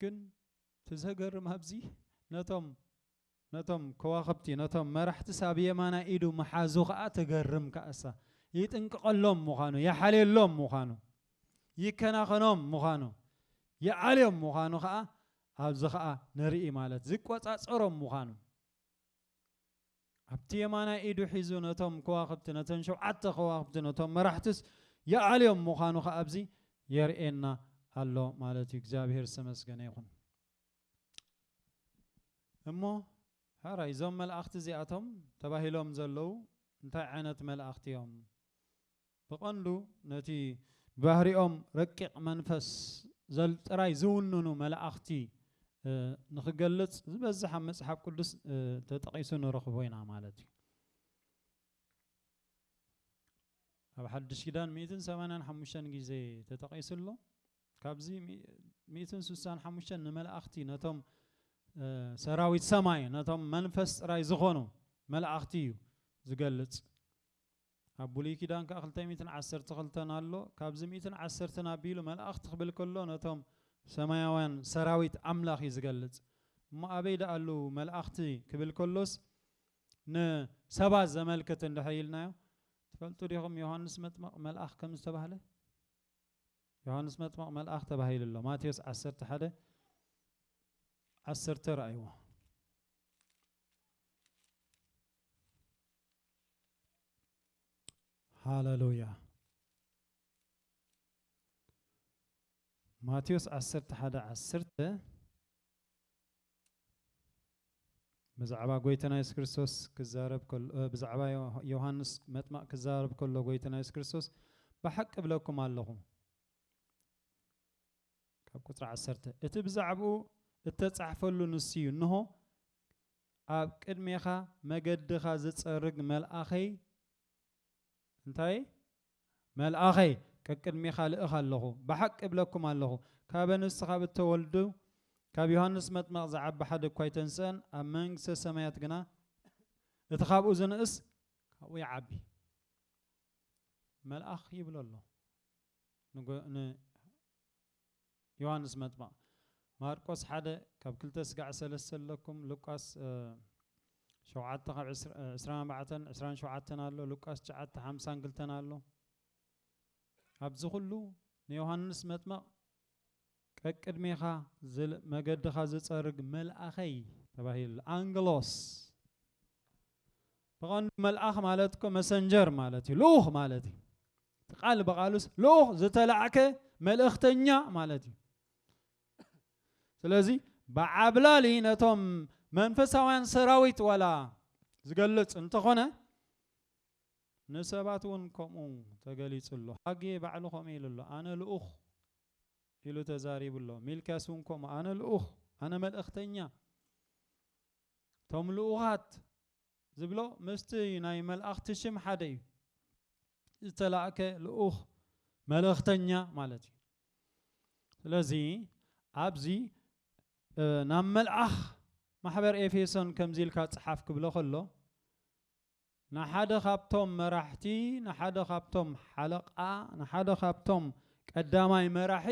ግን እቲ ዘገርም ኣብዚ ነቶም ነቶም ከዋኽብቲ ነቶም መራሕትስ ኣብ የማናይ ኢዱ ምሓዙ ከዓ ተገርም ከኣሳ ይጥንቅቐሎም ምዃኑ ይሓልየሎም ምዃኑ ይከናኸኖም ምዃኑ ይዓልዮም ምዃኑ ከዓ ኣብዚ ከዓ ንርኢ ማለት ዝቆፃፀሮም ምዃኑ ኣብቲ የማናይ ኢዱ ሒዙ ነቶም ከዋኽብቲ ነተን ሸውዓተ ከዋኽብቲ ነቶም መራሕትስ ይኣልዮም ምዃኑ ከዓ ኣብዚ የርእየና ኣሎ ማለት እዩ እግዚኣብሔር ዝተመስገነ ይኹን እሞ ሕራይ እዞም መላእኽቲ እዚኣቶም ተባሂሎም ዘለዉ እንታይ ዓይነት መላእኽቲ እዮም ብቐንዱ ነቲ ብባህሪኦም ረቂቕ መንፈስ ዘል ጥራይ ዝውንኑ መላእኽቲ ንኽገልጽ ዝበዝሕ ኣብ መጽሓፍ ቅዱስ ተጠቒሱ ንረኽቦ ኢና ማለት እዩ። ኣብ ሓድሽ ኪዳን ሚእትን ሰማንያን ሓሙሽተን ግዜ ተጠቒሱ ኣሎ። ካብዚ ሚእትን ስሳን ሓሙሽተን ንመላእኽቲ ነቶም ሰራዊት ሰማይ ነቶም መንፈስ ጥራይ ዝኾኑ መላእኽቲ እዩ ዝገልጽ። ኣብ ብሉይ ኪዳን ከኣ ክልተ ሚእትን ዓሰርተ ክልተን ኣሎ ካብዚ ሚእትን ዓሰርተን ኣቢሉ መላእክት ክብል ከሎ ነቶም ሰማያውያን ሰራዊት ኣምላኽ እዩ ዝገልጽ እሞ ኣበይ ደኣ ኣለው መላእክቲ ክብል ከሎስ ንሰባት ዘመልክት እንድሕር ኢልናዮ ትፈልጡ ዲኹም ዮሐንስ መጥመቕ መልኣኽ ከም ዝተባህለ ዮሐንስ መጥመቕ መልኣኽ ተባሂሉ ኣሎ ማቴዎስ ዓሰርተ ሓደ ዓሰርተ ረኣይዎ ሃለሉያ ማቴዎስ ዓሰርተ ሓደ ዓሰርተ ብዛዕባ ጎይታና የሱስ ክርስቶስ ክዛረብ ከሎ እ፣ ብዛዕባ ዮ- ዮሃንስ መጥማቕ ክዛረብ ከሎ ጎይታና የሱስ ክርስቶስ ብሓቂ እብለኩም ኣለኹ ካብ ቁጽሪ ዓሰርተ እቲ ብዛዕብኡ እተጻሕፈሉ ንሱ እዩ፣ እንሆ፣ ኣብ ቅድሜኻ መገድኻ ዝጸርግ መልኣኸይ፣ እንታይ እየ? መልኣኸይ ቀቅድሜኻ እልእኽ ኣለኹ። ብሓቂ እብለኩም ኣለኹ፣ ካበ ንሱ ኻብ እተወልዱ፣ ካብ ዮሃንስ መጥመቕ ዝዓቢ ሓደ እኳ ኣይተንስአን፣ ኣብ መንግስተ ሰማያት ግና እቲ ኻብኡ ዝንእስ ካብኡ ይዓቢ። መልኣኽ ይብሎ ኣሎ። ንዮሃንስ መጥምቕ ማርቆስ ሓደ ካብ ክልተ ስጋዕ ሰለስተ ኣለኩም ሉቃስ ሸውዓተ ካብ ዕስራን ኣርባዕተን ዕስራን ሸውዓተን ኣሎ ሉቃስ ትሽዓተ ሓምሳን ክልተን ኣሎ ኣብዚ ኩሉ ንዮሃንስ መጥምቕ ቀቅድሜኻ ዝል መገድኻ ዝጸርግ መልኣኸይ ተባሂሉ ኣንግሎስ ብቐንዱ መልኣኽ ማለት እኮ መሰንጀር ማለት እዩ ልኡኽ ማለት እዩ እቲ ቃል ብቓሉስ ልኡኽ ዝተላዕከ መልእኽተኛ ማለት እዩ ስለዚ ብዓብላሊ ነቶም መንፈሳውያን ሰራዊት ዋላ ዝገልጽ እንተኾነ ንሰባት እውን ከምኡ ተገሊጹ ኣሎ ሃጌ ባዕሉ ከምኡ ኢሉ ኣሎ ኣነ ልኡኽ ኢሉ ተዛሪቡ ኣሎ። ሚልክያስ እውን ከምኡ፣ ኣነ ልኡኽ፣ ኣነ መልእኽተኛ፣ እቶም ልኡኻት ዝብሎ ምስቲ ናይ መልኣኽቲ ሽም ሓደ እዩ። ዝተላእከ ልኡኽ፣ መልእኽተኛ ማለት እዩ። ስለዚ ኣብዚ ናብ መልኣኽ ማሕበር ኤፌሶን ከምዚ ኢልካ ጽሓፍ ክብሎ ከሎ ንሓደ ካብቶም መራሕቲ፣ ንሓደ ካብቶም ሓለቓ፣ ንሓደ ካብቶም ቀዳማይ መራሒ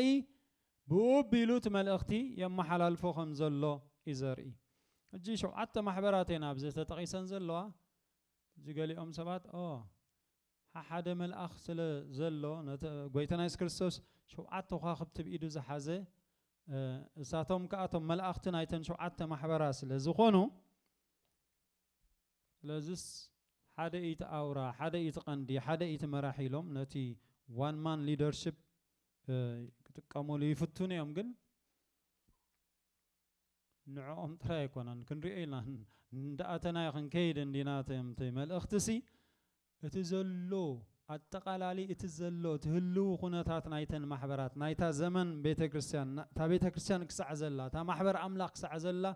ብእኡ ኣቢሉ እቲ መልእኽቲ የመሓላልፎ ከም ዘሎ እዩ ዘርኢ። ሕጂ ሸውዓተ ማሕበራት እየን ኣብዚ ተጠቒሰን ዘለዋ። ሕጂ ገሊኦም ሰባት ኦ ሓሓደ መልኣኽ ስለ ዘሎ ነቲ ጎይታና የሱስ ክርስቶስ ሸውዓተ ኳኽብቲ ብ ኢዱ ዝሓዘ እሳቶም ከኣ እቶም መልኣኽቲ ናይተን ሸውዓተ ማሕበራ ስለ ዝኾኑ ስለዝስ ሓደ ኢቲ ኣውራ፣ ሓደ ኢቲ ቀንዲ፣ ሓደ ኢቲ መራሒ ኢሎም ነቲ ዋን ማን ሊደርሽፕ ክጥቀሙሉ ይፍትኑ እዮም ግን ንዕኦም ጥራይ ኣይኮነን ክንሪኦ ኢና እንዳኣተናዮ ክንከይድ እንዲና እቲ መልእኽቲሲ እቲ ዘሎ ኣጠቓላሊ እቲ ዘሎ እቲ ህልዊ ኩነታት ናይተን ማሕበራት ናይታ ዘመን ቤተ ክርስቲያን ን እታ ቤተ ክርስቲያን ክሳዕ ዘላ እታ ማሕበር ኣምላኽ ክሳዕ ዘላ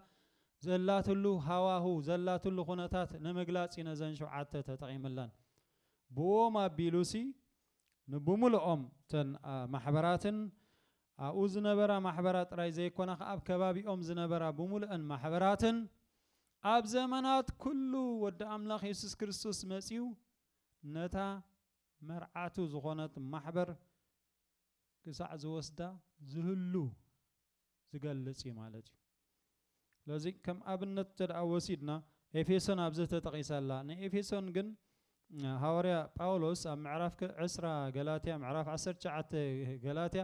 ዘላትሉ ሃዋሁ ዘላትሉ ኩነታት ንምግላጽ'ዩ ነዘን ሽውዓተ ተጠቒምለን ብእኦም ኣቢሉሲ ንብምሉኦም እተን ማሕበራትን ኣብኡ ዝነበራ ማሕበራት ጥራይ ዘይኮና ከኣ ኣብ ከባቢኦም ዝነበራ ብምሉእን ማሕበራትን ኣብ ዘመናት ኩሉ ወዲ ኣምላኽ የሱስ ክርስቶስ መጺኡ ነታ መርዓቱ ዝኾነት ማሕበር ክሳዕ ዝወስዳ ዝህሉ ዝገልጽ እዩ ማለት እዩ። ስለዚ ከም ኣብነት እንተደኣ ወሲድና ኤፌሶን ኣብዚ ተጠቒሳ ኣላ። ንኤፌሶን ግን ሃዋርያ ጳውሎስ ኣብ ምዕራፍ ዕስራ ገላትያ ምዕራፍ ዓሰርተ ትሽዓተ ገላትያ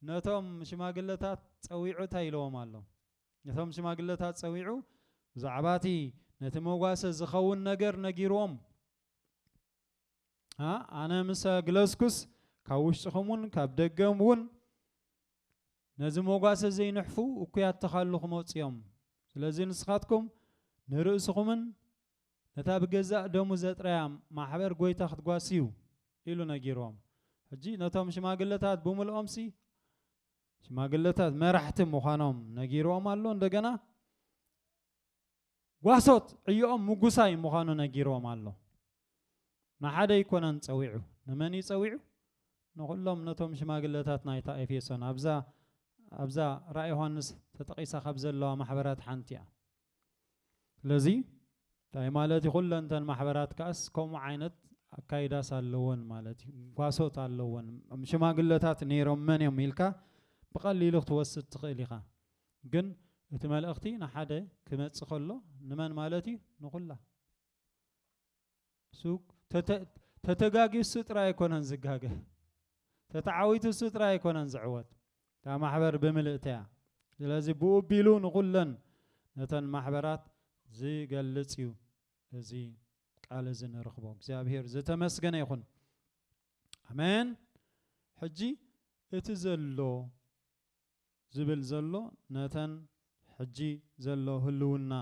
ነቶም ሽማግለታት ጸዊዑ እንታይ ኢለዎም ኣሎ? ነቶም ሽማግለታት ጸዊዑ ብዛዕባ እቲ ነቲ መጓሰ ዝኸውን ነገር ነጊርዎም ኣነ ምስ ኣግለስኩስ ካብ ውሽጥኹም እውን ካብ ደገም እውን ነዚ ሞጓሰ ዘይንሕፉ እኩያት ተኻሉ ክመጹ እዮም። ስለዚ ንስኻትኩም ንርእስኹምን ነታ ብገዛእ ደሙ ዘጥረያ ማሕበር ጎይታ ክትጓስዩ ኢሉ ነጊርዎም። ሕጂ ነቶም ሽማግለታት ብምልኦምሲ ሽማግለታት መራሕቲ ምዃኖም ነጊርዎም ኣሎ እንደገና ጓሶት ዕዮኦም ምጉሳይ ምዃኑ ነጊርዎም ኣሎ። ንሓደ ኣይኮነን ጸዊዑ። ንመን እዩ ጸዊዑ? ንዅሎም ነቶም ሽማግለታት ናይታ ኤፌሶን፣ ኣብዛ ኣብዛ ራእይ ዮሃንስ ተጠቒሳ ኻብ ዘለዋ ማሕበራት ሓንቲ እያ። ስለዚ እንታይ ማለት እዩ? ዅለን እተን ማሕበራት ከኣስ ከምኡ ዓይነት ኣካይዳስ ኣለወን ማለት እዩ። ጓሶት ኣለወን። ሽማግለታት ነይሮም መን እዮም ኢልካ ብቐሊሉ ክትወስድ ትኽእል ኢኻ። ግን እቲ መልእኽቲ ንሓደ ክመጽእ ከሎ ንመን ማለት እዩ? ንኹላ ተተጋጊዩ እሱ ጥራይ ኣይኮነን ዝጋገ ተተዓዊቱ እሱ ጥራይ ኣይኮነን ዝዕወት እታ ማሕበር ብምልእተያ ስለዚ ብኡ ቢሉ ንኹለን ነተን ማሕበራት ዝገልጽ እዩ እዚ ቃል እዚ ንረኽቦ እግዚኣብሄር ዝተመስገነ ይኹን ኣሜን ሕጂ እቲ ዘሎ ዝብል ዘሎ ነተን ሕጂ ዘሎ ህልውና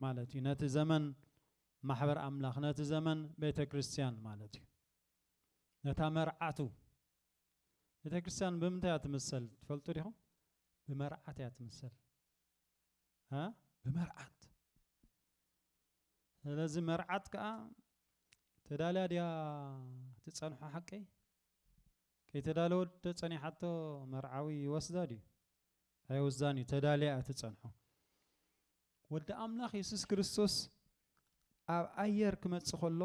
ማለት እዩ ነቲ ዘመን ማሕበር ኣምላኽ ነቲ ዘመን ቤተ ክርስቲያን ማለት እዩ ነታ መርዓቱ ቤተ ክርስቲያን ብምንታይ እያ ትምሰል ትፈልጡ ዲኹም ብመርዓት እያ ትምሰል ብመርዓት ስለዚ መርዓት ከዓ ተዳልያ ድያ ትፀንሖ ሓቀይ ከይተዳለወት ዶ ጸኒሓቶ መርዓዊ ይወስዳ ድዩ ኣይወስዳን እዩ ተዳልያ እያ ትጸንሖ ወዲ ኣምላኽ የሱስ ክርስቶስ ኣብ ኣየር ክመጽእ ከሎ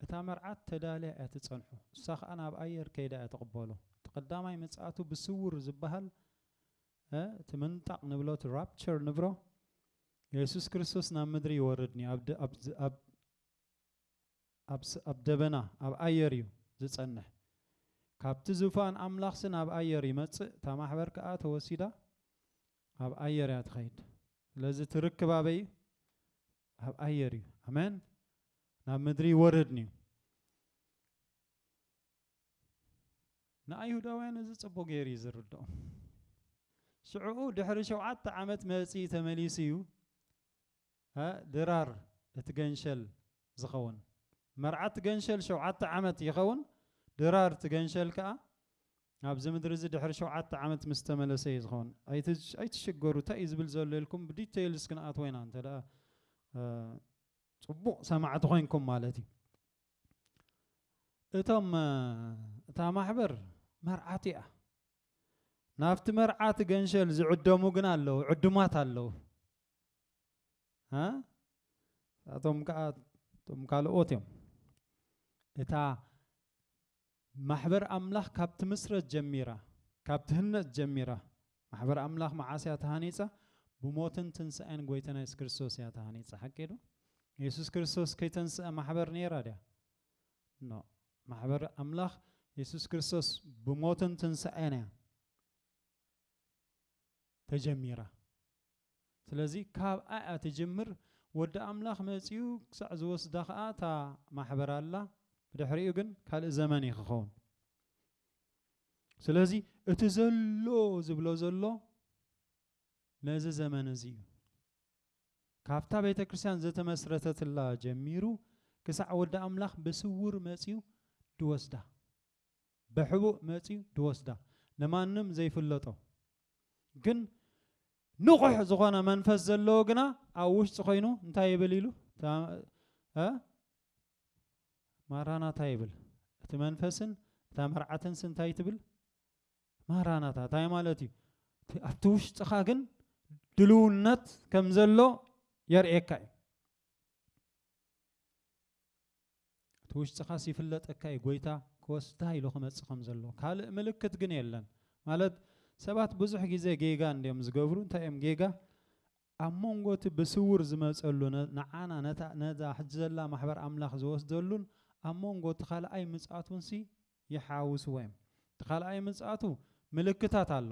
እታ መርዓት ተዳልያ እያ ትጸንሖ እሳ ከኣ ናብ ኣየር ከይዳ እያ ትቕበሎ እቲ ቀዳማይ ምጽኣቱ ብስውር ዝበሃል እቲ ምንጣቕ ንብሎ እቲ ራፕቸር ንብሮ የሱስ ክርስቶስ ናብ ምድሪ ይወርድኒ ኣብ ኣብ ደበና ኣብ ኣየር እዩ ዝጸንሕ ካብቲ ዙፋን ኣምላኽሲ ናብ ኣየር ይመጽእ እታ ማሕበር ከኣ ተወሲዳ ኣብ ኣየር እያ ትኸይድ ስለዚ ትርክብ ኣበይ እዩ ኣብ ኣየር እዩ ኣሜን ናብ ምድሪ ይወርድን እዩ ንኣይሁዳውያን እዚ ጽቡቅ ገይሩ እዩ ዝርድኦም ሽዕኡ ድሕሪ ሸውዓተ ዓመት መጺ ተመሊሱ እዩ ድራር እቲ ገንሸል ዝኸውን መርዓ እቲ ገንሸል ሸውዓተ ዓመት ይኸውን ድራር እቲ ገንሸል ከኣ ናብዚ ምድሪ እዚ ድሕሪ ሸውዓተ ዓመት ምስ ተመለሰ እዩ ዝኸውን ኣይትሽገሩ እንታይ እዩ ዝብል ዘሎ ኢልኩም ብዲቴይልስ ክንኣትዎ ኢና እንተ ደኣ ጽቡቕ ሰማዕቲ ኮይንኩም ማለት እዩ እቶም እታ ማሕበር መርዓት እያ ናብቲ መርዓት ገንሸል ዝዕደሙ ግን ኣለዉ ዕዱማት ኣለዉ እቶም ከዓ እቶም ካልኦት እዮም እታ ማሕበር ኣምላኽ ካብ ትምስረት ጀሚራ ካብ ትህነጽ ጀሚራ ማሕበር ኣምላኽ መዓስ እያ ተሃኒጻ ብሞትን ትንሣኤን ጐይታና የሱስ ክርስቶስ እያ ተሃኒጻ ሓቂ ዶ የሱስ ክርስቶስ ከይተንስአ ማሕበር ነይራ ድያ ኖ ማሕበር ኣምላኽ የሱስ ክርስቶስ ብሞትን ትንሣኤን እያ ተጀሚራ ስለዚ ካብኣ እያ ትጅምር ወዲ ኣምላኽ መጺኡ ክሳዕ ዝወስዳ ከኣ እታ ማሕበር ኣላ ብድሕሪኡ ግን ካልእ ዘመን እዩ ክኸውን ስለዚ እቲ ዘሎ ዝብሎ ዘሎ ነዚ ዘመን እዚ እዩ ካብታ ቤተ ክርስቲያን ዘተመስረተትላ ጀሚሩ ክሳዕ ወዲ ኣምላኽ ብስውር መጺኡ ድወስዳ ብሕቡእ መጽዩ ድወስዳ ንማንም ዘይፍለጦ ግን ንቑሕ ዝኾነ መንፈስ ዘለዎ ግና ኣብ ውሽጢ ኮይኑ እንታይ ይብል ኢሉ እ ማራናታ ይብል እቲ መንፈስን እታ መርዓትን ስ እንታይ ትብል ማራናታ እንታይ ማለት እዩ ኣብቲ ውሽጥኻ ግን ድልውነት ከም ዘሎ የርእየካ እዩ እቲ ውሽጥኻስ ይፍለጠካ እዩ ጎይታ ክወስዳ ኢሉ ክመጽእ ከም ዘሎ ካልእ ምልክት ግን የለን ማለት ሰባት ብዙሕ ግዜ ጌጋ እንድዮም ዝገብሩ እንታይ እዮም ጌጋ ኣብ መንጎ እቲ ብስውር ዝመጸሉ ንዓና ነታ ነዛ ሕጂ ዘላ ማሕበር ኣምላኽ ዝወስደሉን ኣብ መንጎ እቲ ካልኣይ ምጽኣቱንሲ ይሓውስዎ እዮም እቲ ካልኣይ ምጽኣቱ ምልክታት ኣሎ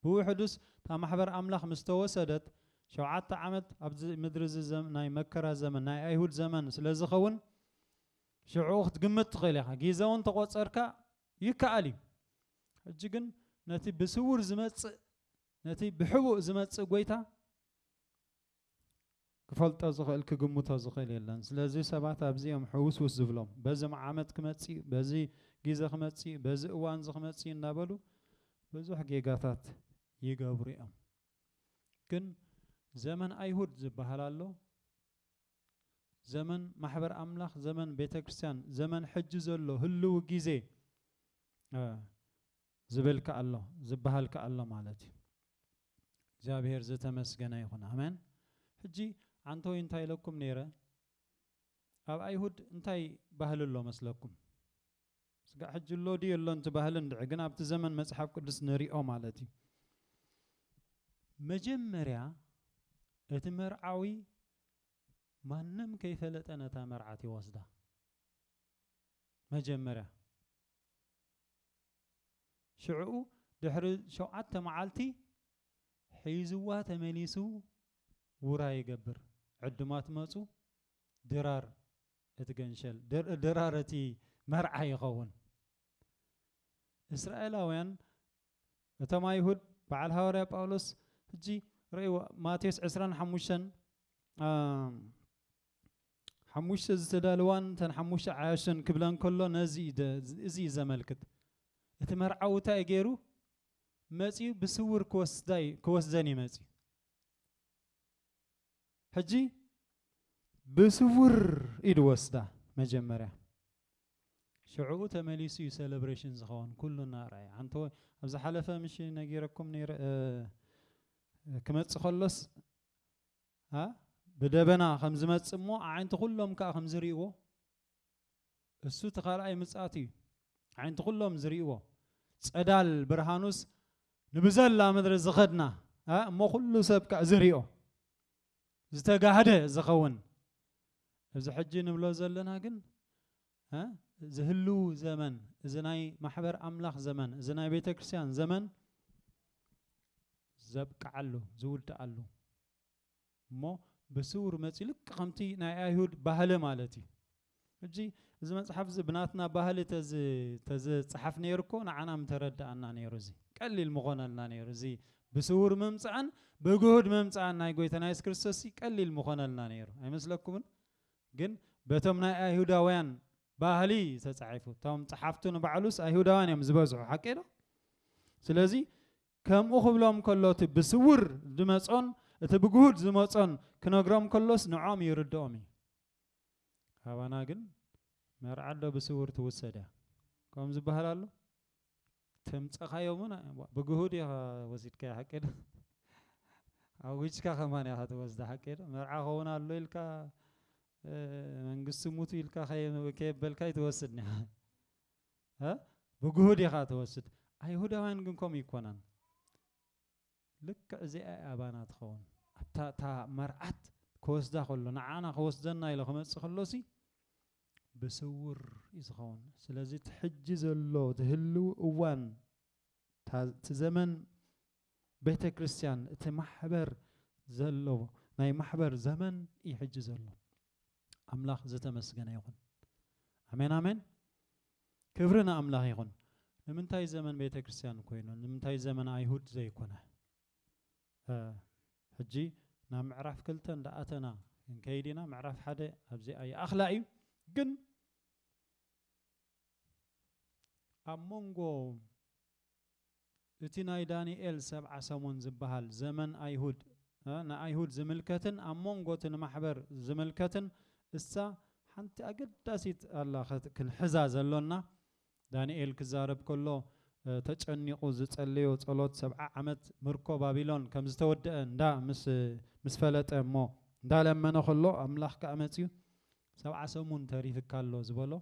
ብውሕዱስ እታ ማሕበር ኣምላኽ ምስ ተወሰደት፣ ሸውዓተ ዓመት ኣብዚ ምድሪ እዚ ናይ መከራ ዘመን፣ ናይ ኣይሁድ ዘመን ስለ ዝኸውን፣ ሽዕኡ ክትግምት ትኽእል ኢኻ፣ ጊዘ እውን ተቆጸርካ ይከኣል እዩ። ሕጂ ግን ነቲ ብስውር ዝመጽእ ነቲ ብሕቡእ ዝመጽእ ጎይታ፣ ክፈልጦ ዝኽእል ክግምቶ ዝኽእል የለን ስለዚ ሰባት ኣብዚኦም ሕውስውስ ዝብሎም በዚ መዓመት ክመፅእ በዚ ግዜ ክመፅእ በዚ እዋን እዚ ክመፅእ እናበሉ ብዙሕ ጌጋታት ይገብሩ እዮም ግን ዘመን ኣይሁድ ዝበሃል ኣሎ ዘመን ማሕበር ኣምላኽ ዘመን ቤተ ክርስቲያን ዘመን ሕጂ ዘሎ ህልው ግዜ ዝብል ከኣሎ ዝበሃል ከኣሎ ማለት እዩ እግዚኣብሔር ዝተመስገነ ይኹን ኣመን ሕጂ ዓንተወይ እንታይ ኢለኩም ነይረ ኣብ ኣይሁድ እንታይ ባህሊ ኣሎ መስለኩም ስጋዕ ሕጂ ኣሎ ድዩ የሎን እቲ ባህሊ እንድዒ ግን ኣብቲ ዘመን መጽሓፍ ቅዱስ ንሪኦ ማለት እዩ መጀመርያ እቲ መርዓዊ ማንም ከይፈለጠ ነታ መርዓት ይወስዳ መጀመርያ ሽዕኡ ድሕሪ ሸውዓተ መዓልቲ ሒዝዋ ተመሊሱ ውራ ይገብር። ዕዱማት መጹ፣ ድራር እቲ ገንሸል፣ ድራር እቲ መርዓ ይኸውን። እስራኤላውያን እቶም ኣይሁድ በዓል ሃዋርያ ጳውሎስ ሕጂ ረእይዎ ማቴዎስ ዕስራን ሓሙሽተን ሓሙሽተ ዝተዳለዋን እተን ሓሙሽተ ዓያሹን ክብለን ከሎ ነዚ እዚ እዩ ዘመልክት። እቲ መርዓዊ እንታይ ገይሩ መጺኡ ብስውር ክወስዳይ ክወስደን እዩ መጺኡ ሕጂ ብስውር ኢሉ ወስዳ መጀመርያ ሽዕኡ ተመሊሱ እዩ ሴሌብሬሽን ዝኸውን ኩሉ እናርኣየ ሓንቲ ኣብ ዝሓለፈ ምሽ ነጊረኩም ክመፅእ ከሎስ ኣ ብደበና ከም ዝመጽእ እሞ ኣዒንቲ ኩሎም ከኣ ከም ዝሪእዎ እሱ እቲ ካልኣይ ምጽኣት እዩ ኣዒንቲ ኩሎም ዝሪእዎ ጸዳል ብርሃኑስ ንብዘላ ምድሪ ዝኸድና እሞ ኩሉ ሰብ ከኣ ዝሪኦ ዝተጋህደ ዝኸውን እዚ ሕጂ ንብሎ ዘለና ግን እ እዚ ህልው ዘመን እዚ ናይ ማሕበር ኣምላኽ ዘመን እዚ ናይ ቤተ ክርስቲያን ዘመን ዘብቅዓሉ ዝውድኣሉ እሞ ብስውር መጺኡ ልክ ከምቲ ናይ ኣይሁድ ባህሊ ማለት እዩ ሕጂ እዚ መጽሓፍ እዚ ብናትና ባህሊ ተዝጸሓፍ ነይሩ እኮ ንዓና ምተረድኣና ነይሩ እዚ ቀሊል ምኾነልና ነይሩ እዚ ብስውር ምምጻእን ብግሁድ ምምጻእን ናይ ጎይታና የሱስ ክርስቶስ ቀሊል ምኾነልና ነይሩ ኣይመስለኩምን ግን በቶም ናይ ኣይሁዳውያን ባህሊ እዩ ተጻሒፉ። እቶም ጸሓፍቱ ንባዕሉስ ኣይሁዳውያን እዮም ዝበዝሑ፣ ሓቂ ዶ? ስለዚ ከምኡ ክብሎም ከሎ እቲ ብስውር ዝመጾን እቲ ብግሁድ ዝመጾን ክነግሮም ከሎስ ንዖም ይርድኦም እዩ። ካባና ግን መርዓዶ ብስውር ትውሰዳ ከም ዝበሃል ኣሎ ተምጸኻዮም ውን ብ ብግሁድ ኢኻ ወሲድካዮ ሓቂ ዶ ኣዊጅካ ከማን ኢኻ ትወስዳ ሓቂ ዶ መርዓ ክኸውን ኣሎ ኢልካ መንግስቲ ሙቱ ኢልካ ከየበልካ ይትወስድ ኒኻ ብግሁድ ኢኻ ትወስድ ኣይሁዳውያን ግን ከምኡ ኣይኮናን ልክዕ እዚኣ እያ ኣባና ትኸውን። ኣብታ እታ መርዓት ክወስዳ ከሎ ንዓና ክወስደና ኢሎ ክመጽእ ከሎሲ ብስውር እዩ ዝኸውን። ስለዚ እቲ ሕጂ ዘሎ እቲ ህልዊ እዋን እታ እቲ ዘመን ቤተ ክርስቲያን እቲ ማሕበር ዘሎ ናይ ማሕበር ዘመን እዩ ሕጂ ዘሎ። ኣምላኽ ዝተመስገነ ይኹን። ኣሜን ኣሜን። ክብሪ ንኣምላኽ ይኹን ንምንታይ ዘመን ቤተ ክርስትያን ኮይኑ ንምንታይ ዘመን ኣይሁድ ዘይኮነ ሕጂ ናብ ምዕራፍ ክልተ እንዳኣተና ክንከይድ ኢና ምዕራፍ ሓደ ኣብዚኣ ይኣኽላ እዩ ግን ኣብ መንጎ እቲ ናይ ዳንኤል ሰብዓ ሰሙን ዝበሃል ዘመን ኣይሁድ ንኣይሁድ ዝምልከትን ኣብ መንጎ እቲ ንማሕበር ዝምልከትን እሳ ሓንቲ ኣገዳሲት ኣላ ክንሕዛ ዘሎና ዳንኤል ክዛረብ ከሎ ተጨኒቑ ዝጸለዮ ጸሎት ሰብዓ ዓመት ምርኮ ባቢሎን ከም ዝተወደኣ እንዳ ምስ ምስ ፈለጠ እሞ እንዳለመነ ከሎ ኣምላኽ ከኣ መጽዩ ሰብዓ ሰሙን ተሪፍካ ኣሎ ዝበሎ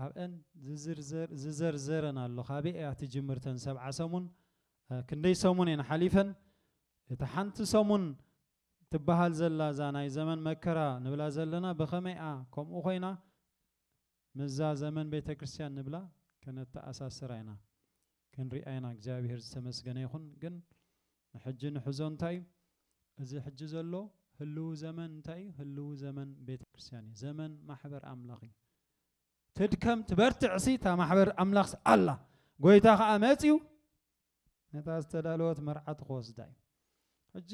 ኣብኤን ዝዝርዘር ዝዘርዘረን ኣሎ ካበይ እያ ትጅምር ተን ሰብዓ ሰሙን ክንደይ ሰሙን እየን ሓሊፈን እታ ሓንቲ ሰሙን ትበሃል ዘላ እዛ ናይ ዘመን መከራ ንብላ ዘለና ብኸመይኣ ከምኡ ኮይና ምዛ ዘመን ቤተ ክርስቲያን ንብላ ከነተኣሳስራ ኢና ክንሪኣ ኢና እግዚኣብሔር ዝተመስገነ ይኹን ግን ንሕጂ ንሕዞ እንታይ እዩ እዚ ሕጂ ዘሎ ህልው ዘመን እንታይ እዩ ህልው ዘመን ቤተ ክርስቲያን እዩ ዘመን ማሕበር ኣምላኽ እዩ ትድከም ትበርትዕሲ እታ ማሕበር ኣምላኽስ ኣላ ጎይታ ከዓ መፅዩ ነታ ዝተዳለወት መርዓት ክወስዳ እዩ ሕጂ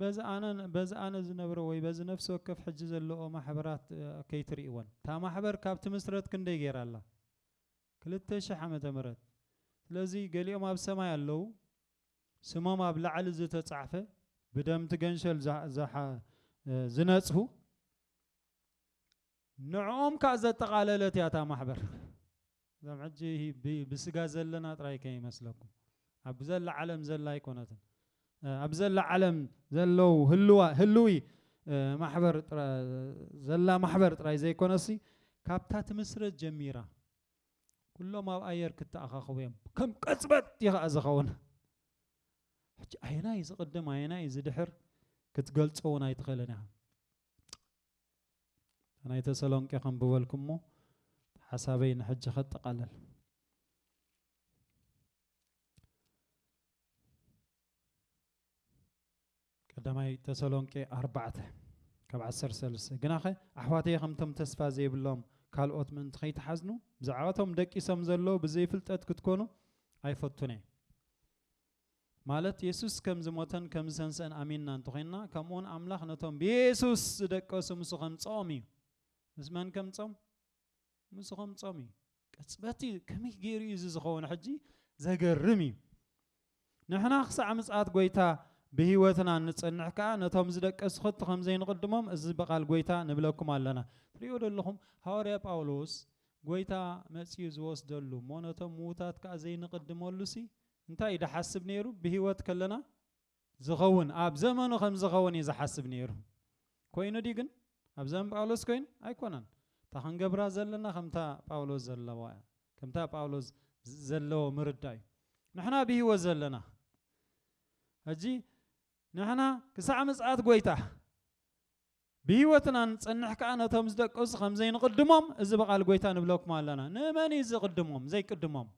በዚ ኣነ በዚ ኣነ ዝነብሮ ወይ በዚ ነፍሲ ወከፍ ሕጂ ዘለዎ ማሕበራት ከይትርእወን እታ ማሕበር ካብ ትምስረት ክንደይ ገይራ ኣላ ክልተ ሽሕ ዓመተ ምህረት ስለዚ ገሊኦም ኣብ ሰማይ ኣለው ስሞም ኣብ ላዕሊ ዝተጻሕፈ ብደም እቲ ገንሸል ዝነጽሁ ንዕኦም ከኣ ዘጠቓለለት እያ እታ ማሕበር እዞም ሕጂ ብስጋ ዘለና ጥራይ ከይመስለኩም ኣብ ዘላ ዓለም ዘላ ኣይኮነትን ኣብ ዘላ ዓለም ዘለው ህልዋ ህልዊ ማሕበር ዘላ ማሕበር ጥራይ ዘይኮነሲ ካብታ ትምስረት ጀሚራ ኩሎም ኣብ ኣየር ክተኣኻኸቡ እዮም ከም ቅጽበት እዩ ከዓ ዝኸውን ሕጂ ኣየናይ ዝቕድም ኣየናይ ዝድሕር ክትገልጾ እውን ኣይትኽእልን ኢኻ ናይ ተሰሎንቄ ከንብበልኩሞ ሓሳበይ ንሕጂ ከጠቓለል ቀዳማይ ተሰሎንቄ ኣርባዕተ ካብ ዓሰርተ ሰለስተ ግናኸ ኣሕዋተይ ከምቶም ተስፋ ዘይብሎም ካልኦት ምእንቲ ከይትሓዝኑ ብዛዕባቶም ደቂሶም ዘለዉ ብዘይፍልጠት ክትኮኑ ኣይፈቱን እየ ማለት የሱስ ከም ዝሞተን ከም ዝተንስአን ኣሚንና እንተኮይንና ከምኡውን ኣምላኽ ነቶም ብየሱስ ዝደቀሱ ምስ ከምፅኦም እዩ ምስ መን ከምፆም ምስኹም ጾም እዩ ቅጽበት እዩ ከመይ ገይሩ እዩ እዚ ዝኸውን ሕጂ ዘገርም እዩ ንሕና ክሳዕ ምጽኣት ጎይታ ብህይወትና ንጽንሕ ከኣ ነቶም ዝደቀሱ ከቶ ከም ዘይንቕድሞም እዚ ብቓል ጎይታ ንብለኩም ኣለና ትሪእዎ ደለኹም ሃዋርያ ጳውሎስ ጎይታ መጺኡ ዝወስደሉ እሞ ነቶም ምዉታት ከኣ ዘይንቕድመሉ ሲ እንታይ እዩ ድሓስብ ነይሩ ብህይወት ከለና ዝኸውን ኣብ ዘመኑ ከም ዝኸውን እዩ ዝሓስብ ነይሩ። ኮይኑ ድዩ ግን? ኣብ ዘመን ጳውሎስ ኮይኑ? ኣይኮነን። እታ ክንገብራ ዘለና ከምታ ጳውሎስ ዘለዋ እያ። ከምታ ጳውሎስ ዘለዎ ምርዳእ እዩ። ንሕና ብህይወት ዘለና ሕጂ ንሕና ክሳዕ ምጽኣት ጐይታ ብህይወትና ንጸንሕ ከኣ ነቶም ዝደቀሱ ከም ዘይንቕድሞም እዚ ብቓል ጐይታ ንብለኩም ኣለና። ንመን እዩ ዝቕድሞም ዘይቅድሞም?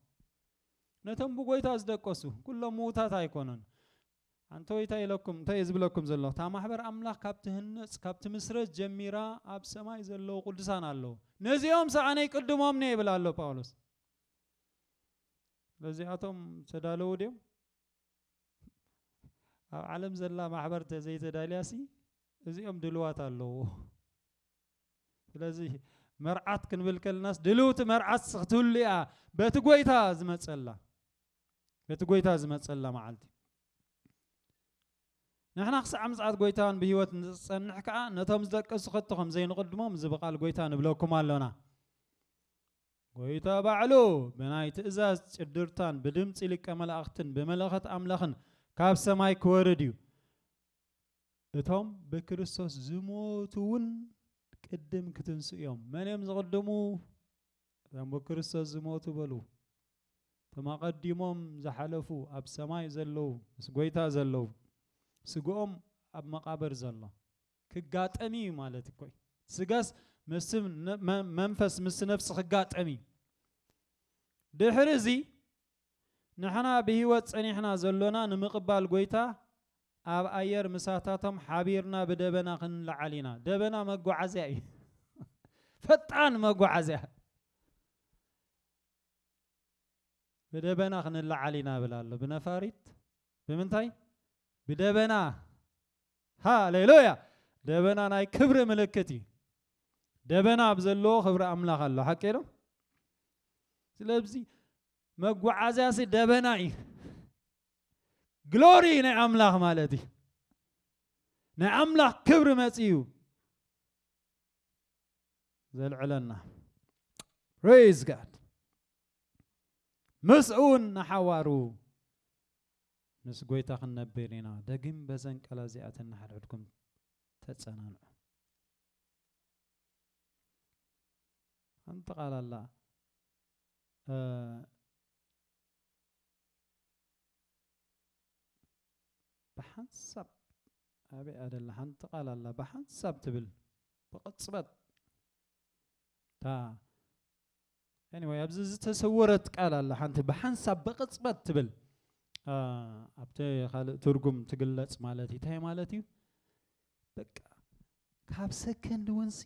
ነቶም ብጎይታ ዝደቀሱ ኩሎም ምዉታት ኣይኮኑን። ኣንተ ኢታይ ኢለኩም እንታይ እየ ዝብለኩም ዘለኹ እታ ማሕበር ኣምላኽ ካብ ትህነጽ ካብ ትምስረት ጀሚራ ኣብ ሰማይ ዘለዉ ቅዱሳን ኣለዉ ነዚኦም ሰኣነ ይቅድሞም ነ ይብል ኣሎ ጳውሎስ ስለዚኣቶም ተዳለዉ ድዮም ኣብ ዓለም ዘላ ማሕበር ተዘይተዳልያሲ እዚኦም ድልዋት ኣለዎ ስለዚ መርዓት ክንብል ከለናስ ድልውቲ መርዓት ክትህሉ እያ በቲ ጎይታ ዝመፀላ በቲ ጎይታ ዝመፀላ መዓልቲ ንሕና ክሳዕ ምጽኣት ጎይታን ብህይወት ንዝጸንሕ ከዓ ነቶም ዝደቀሱ ከቶ ከም ዘይንቕድሞም እዚ ብቓል ጎይታ ንብለኩም ኣሎና ጎይታ ባዕሉ ብናይ ትእዛዝ ጭድርታን ብድምፂ ሊቀ መላእኽትን ብመለኸት ኣምላኽን ካብ ሰማይ ክወርድ እዩ እቶም ብክርስቶስ ዝሞቱ እውን ቅድም ክትንስኡ እዮም። መን እዮም ዝቕድሙ? እቶም ብክርስቶስ ዝሞቱ በሉ። እቶም ኣቐዲሞም ዝሓለፉ ኣብ ሰማይ ዘለዉ ምስ ጎይታ ዘለዉ ስግኦም ኣብ መቓብር ዘሎ ክጋጠም እዩ ማለት እኮ እዩ። ስጋስ ምስ መንፈስ ምስ ነፍሲ ክጋጠም እዩ። ድሕሪ እዚ ንሕና ብህይወት ጸኒሕና ዘሎና ንምቕባል ጐይታ ኣብ ኣየር ምሳታቶም ሓቢርና ብደበና ክንለዓል ኢና። ደበና መጓዓዝያ እዩ። ፈጣን መጓዓዝያ። ብደበና ክንለዓል ኢና ብል ኣሎ። ብነፋሪት ብምንታይ? ብደበና። ሃሌሉያ! ደበና ናይ ክብሪ ምልክት እዩ። ደበና ኣብ ዘለዎ ክብሪ ኣምላኽ ኣሎ። ሓቂ ዶ? ስለዚ መጓዓዝያሲ ደበና እዩ ግሎሪ ናይ ኣምላኽ ማለት እዩ ናይ ኣምላኽ ክብሪ መፅዩ ዘልዕለና ፕሬዝ ጋድ ምስኡን ንሓዋሩ ምስ ጎይታ ክንነብር ኢና ደጊም በዘን ቃላ እዚኣተን ንሓድሕድኩም ተፀናንዑ ሓንቲ ቃል ኣላ ብሓንሳብ ኣበይ እያ ደላ ሓንቲ ቃል ኣላ ብሓንሳብ ትብል ብቕፅበት እታ ኤኒወይ ኣብዚ ዝተሰወረት ቃል ኣላ ሓንቲ ብሓንሳብ ብቕፅበት ትብል ኣብቲ ካልእ ትርጉም ትግለፅ ማለት እዩ እንታይ ማለት እዩ በቃ ካብ ሰከንድ እውንሲ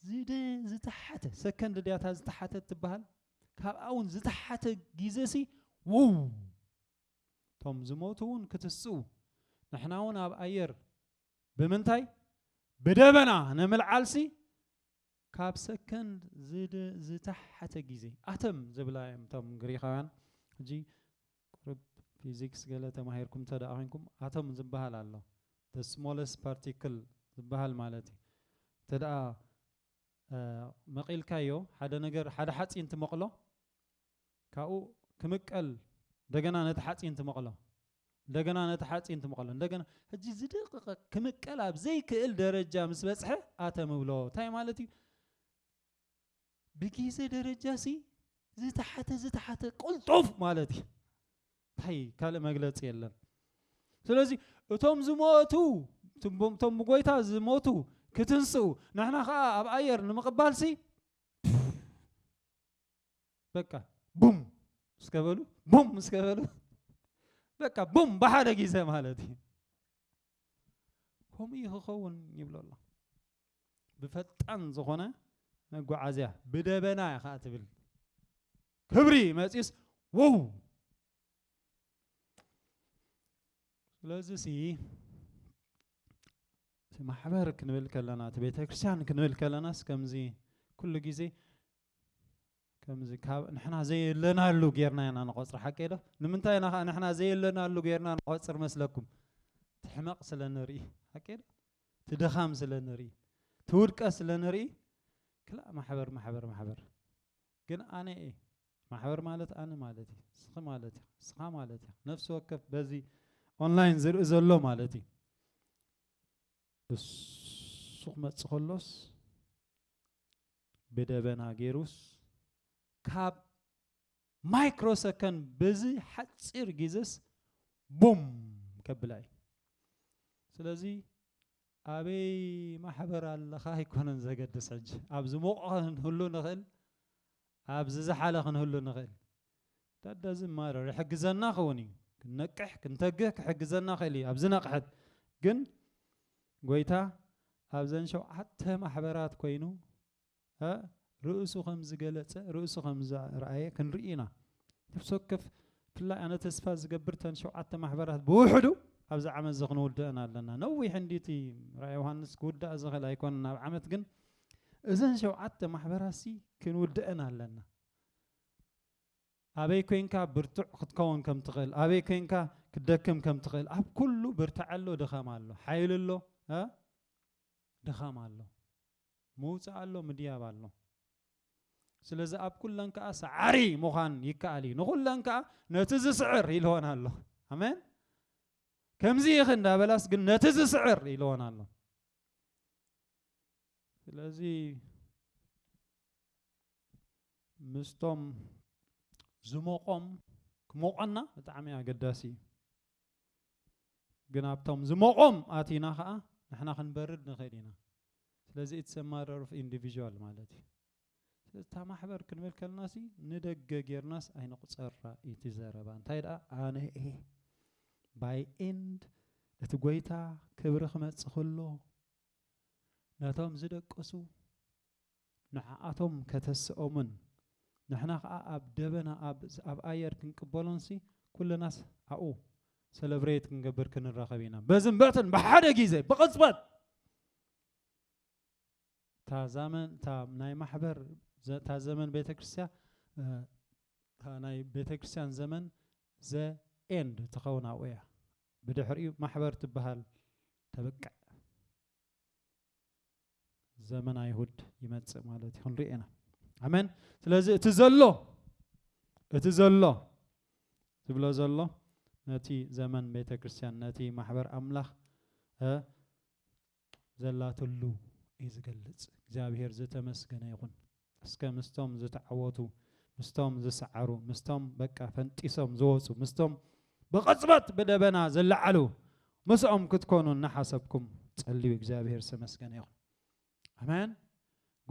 ዝደ ዝተሓተ ሰከንድ ድያታ ዝተሓተ ትበሃል ካብኣ እውን ዝተሓተ ግዜ ሲ ውው እቶም ዝሞቱ እውን ክትስኡ ንሕና እውን ኣብ ኣየር ብምንታይ ብደበና ንምልዓልሲ ካብ ሰከንድ ዝተሓተ ግዜ ኣተም ዝብላ እዮም እቶም ግሪኻውያን ሕጂ ቁሩብ ፊዚክስ ገለ ተማሂርኩም እንተ ደኣ ኮይንኩም ኣቶም ዝበሃል ኣሎ the smallest particle ዝበሃል ማለት እዩ እንተ ደኣ መቂልካዮ ሓደ ነገር ሓደ ሓጺን ትመቅሎ ካብኡ ክምቀል እንደገና ነቲ ሓጺን ትመቅሎ እንደገና ነቲ ሓጺን ትመቅሎ እንደገና ሕጂ ዝድቅቀ ክምቀል ኣብ ዘይክእል ደረጃ ምስ በጽሐ ኣተም እብሎ እንታይ ማለት እዩ ብጊዘ ደረጃ ሲ ዝተሓተ ዝተሓተ ቅልጡፍ ማለት እዩ እንታይ ካልእ መግለፂ የለን ስለዚ እቶም ዝሞቱ እቶም ብጎይታ ዝሞቱ ክትንስኡ ንሕና ከዓ ኣብ ኣየር ንምቕባል ሲ በቃ ቡም እስከበሉ ቡም እስከበሉ በቃ ቡም ብሓደ ጊዜ ማለት እዩ ከምኡ እዩ ክኸውን ይብሎ ኣሎ። ብፈጣን ዝኾነ መጓዓዝያ ብደበና እያ ከዓ ትብል ክብሪ መፂስ ወው ስለዚ ሲ ማሕበር ክንብል ከለና እቲ ቤተ ክርስቲያን ክንብል ከለናስ ከምዚ ኩሉ ግዜ ከምዚ ካብ ንሕና ዘየለናሉ ጌርና ኢና ንቆፅር ሓቀይ ዶ ንምንታይ ኢና ከዓ ንሕና ዘየለናሉ ጌርና ንቆፅር መስለኩም ትሕመቕ ስለ ንርኢ ሓቀይ ዶ ትድኻም ስለ ንርኢ ትውድቀት ስለ ንርኢ ክላእ ማሕበር ማሕበር ማሕበር ግን ኣነ እየ ማሕበር ማለት ኣነ ማለት እዩ እስኺ ማለት እዩ እስኻ ማለት እዩ ነፍሲ ወከፍ በዚ ኦንላይን ዝርኢ ዘሎ ማለት እዩ እሱ ክመፅእ ከሎስ ብደበና ጌሩስ ካብ ማይክሮ ሰከንድ በዚ ሓፂር ጊዘስ ቡም ከብላ እዩ ስለዚ ኣበይ ማሕበር ኣለኻ ኣይኮነን ዘገድስ ሕጂ ኣብ ዝሞቕ ክንህሉ ንኽእል ኣብ ዝዝሓለ ክንህሉ ንኽእል ታዳ እዚ ማረር ይሕግዘና ክውን እዩ ክንነቅሕ ክንተግህ ክሕግዘና ክእል እዩ ኣብዚ ነቕሐት ግን ጎይታ ኣብዘን ሸውዓተ ማሕበራት ኮይኑ ርእሱ ከም ዝገለጸ ርእሱ ከም ዝረኣየ ክንርኢ ኢና ነፍሲ ወከፍ ብፍላይ ኣነ ተስፋ ዝገብር ተን ሸውዓተ ማሕበራት ብውሕዱ ኣብዚ ዓመት እዚ ክንውድአን ኣለና ነዊሕ እንዲቲ ራእይ ዮሃንስ ክውዳእ ዝኽእል ኣይኮነን ኣብ ዓመት ግን እዘን ሸውዓተ ማሕበራሲ ክንውድአን ኣለና ኣበይ ኮይንካ ብርቱዕ ክትከውን ከም ትኽእል፣ ኣበይ ኮይንካ ክትደክም ከም ትኽእል፣ ኣብ ኩሉ ብርታዐ ኣሎ ድኻም ኣሎ፣ ሓይሊ ኣሎ እ ድኻም ኣሎ፣ ምውጻእ ኣሎ ምድያብ ኣሎ። ስለዚ ኣብ ኩለን ከኣ ሰዓሪ ምዃን ይከኣል እዩ። ንኹለን ከኣ ነቲ ዝስዕር ኢልወን ኣሎ። ኣሜን። ከምዚ ኢኺ እንዳበላስ ግን ነቲ ዝስዕር ኢልወን ኣሎ። ስለዚ ምስቶም ዝሞቆም ክሞቆና ብጣዕሚ ኣገዳሲ እዩ ግን ኣብቶም ዝሞቆም ኣቲና ከዓ ንሕና ክንበርድ ንኽእል ኢና ስለዚ ኢትስ ማረር ኦፍ ኢንዲቪዥዋል ማለት እዩ ስለዚ እታ ማሕበር ክንብል ከለና ሲ ንደገ ጌርናስ ኣይንቑፀራ ኢቲ ዘረባ እንታይ ደኣ ኣነ እየ ባይ ኤንድ እቲ ጎይታ ክብሪ ክመፅእ ከሎ ነቶም ዝደቀሱ ንዓኣቶም ከተስኦምን ንሕና ከኣ ኣብ ደበና ኣብ ኣብ ኣየር ክንቅበሎንሲ ኩልናስ ኣብኡ ሰለብረይት ክንገብር ክንራኸብ ኢና በዝን በትን ብሓደ ግዜ ብቕጽበት እታ ዛመን እታ ናይ ማሕበር እታ ዘመን ቤተ ክርስቲያ እታ ናይ ቤተ ክርስቲያን ዘመን ዘ ኤንድ ትኸውን ኣብኡ እያ ብድሕሪኡ ማሕበር ትበሃል ተብቅዕ ዘመን ኣይሁድ ይመጽእ ማለት እዩ ክንሪኦ ኢና ኣመን ስለዚ እቲ ዘሎ እቲ ዘሎ ዝብሎ ዘሎ ነቲ ዘመን ቤተ ክርስቲያን ነቲ ማሕበር ኣምላኽ ዘላትሉ እዩ ዝገልጽ እግዚኣብሔር ዝተመስገነ ይኹን እስከ ምስቶም ዝተዓወቱ ምስቶም ዝሰዓሩ ምስቶም በቃ ፈንጢሶም ዝወጹ ምስቶም ብቕጽበት ብደበና ዝለዓሉ ምስኦም ክትኮኑ እናሓሰብኩም ጸልዩ እግዚኣብሔር ዝተመስገነ ይኹን ኣሜን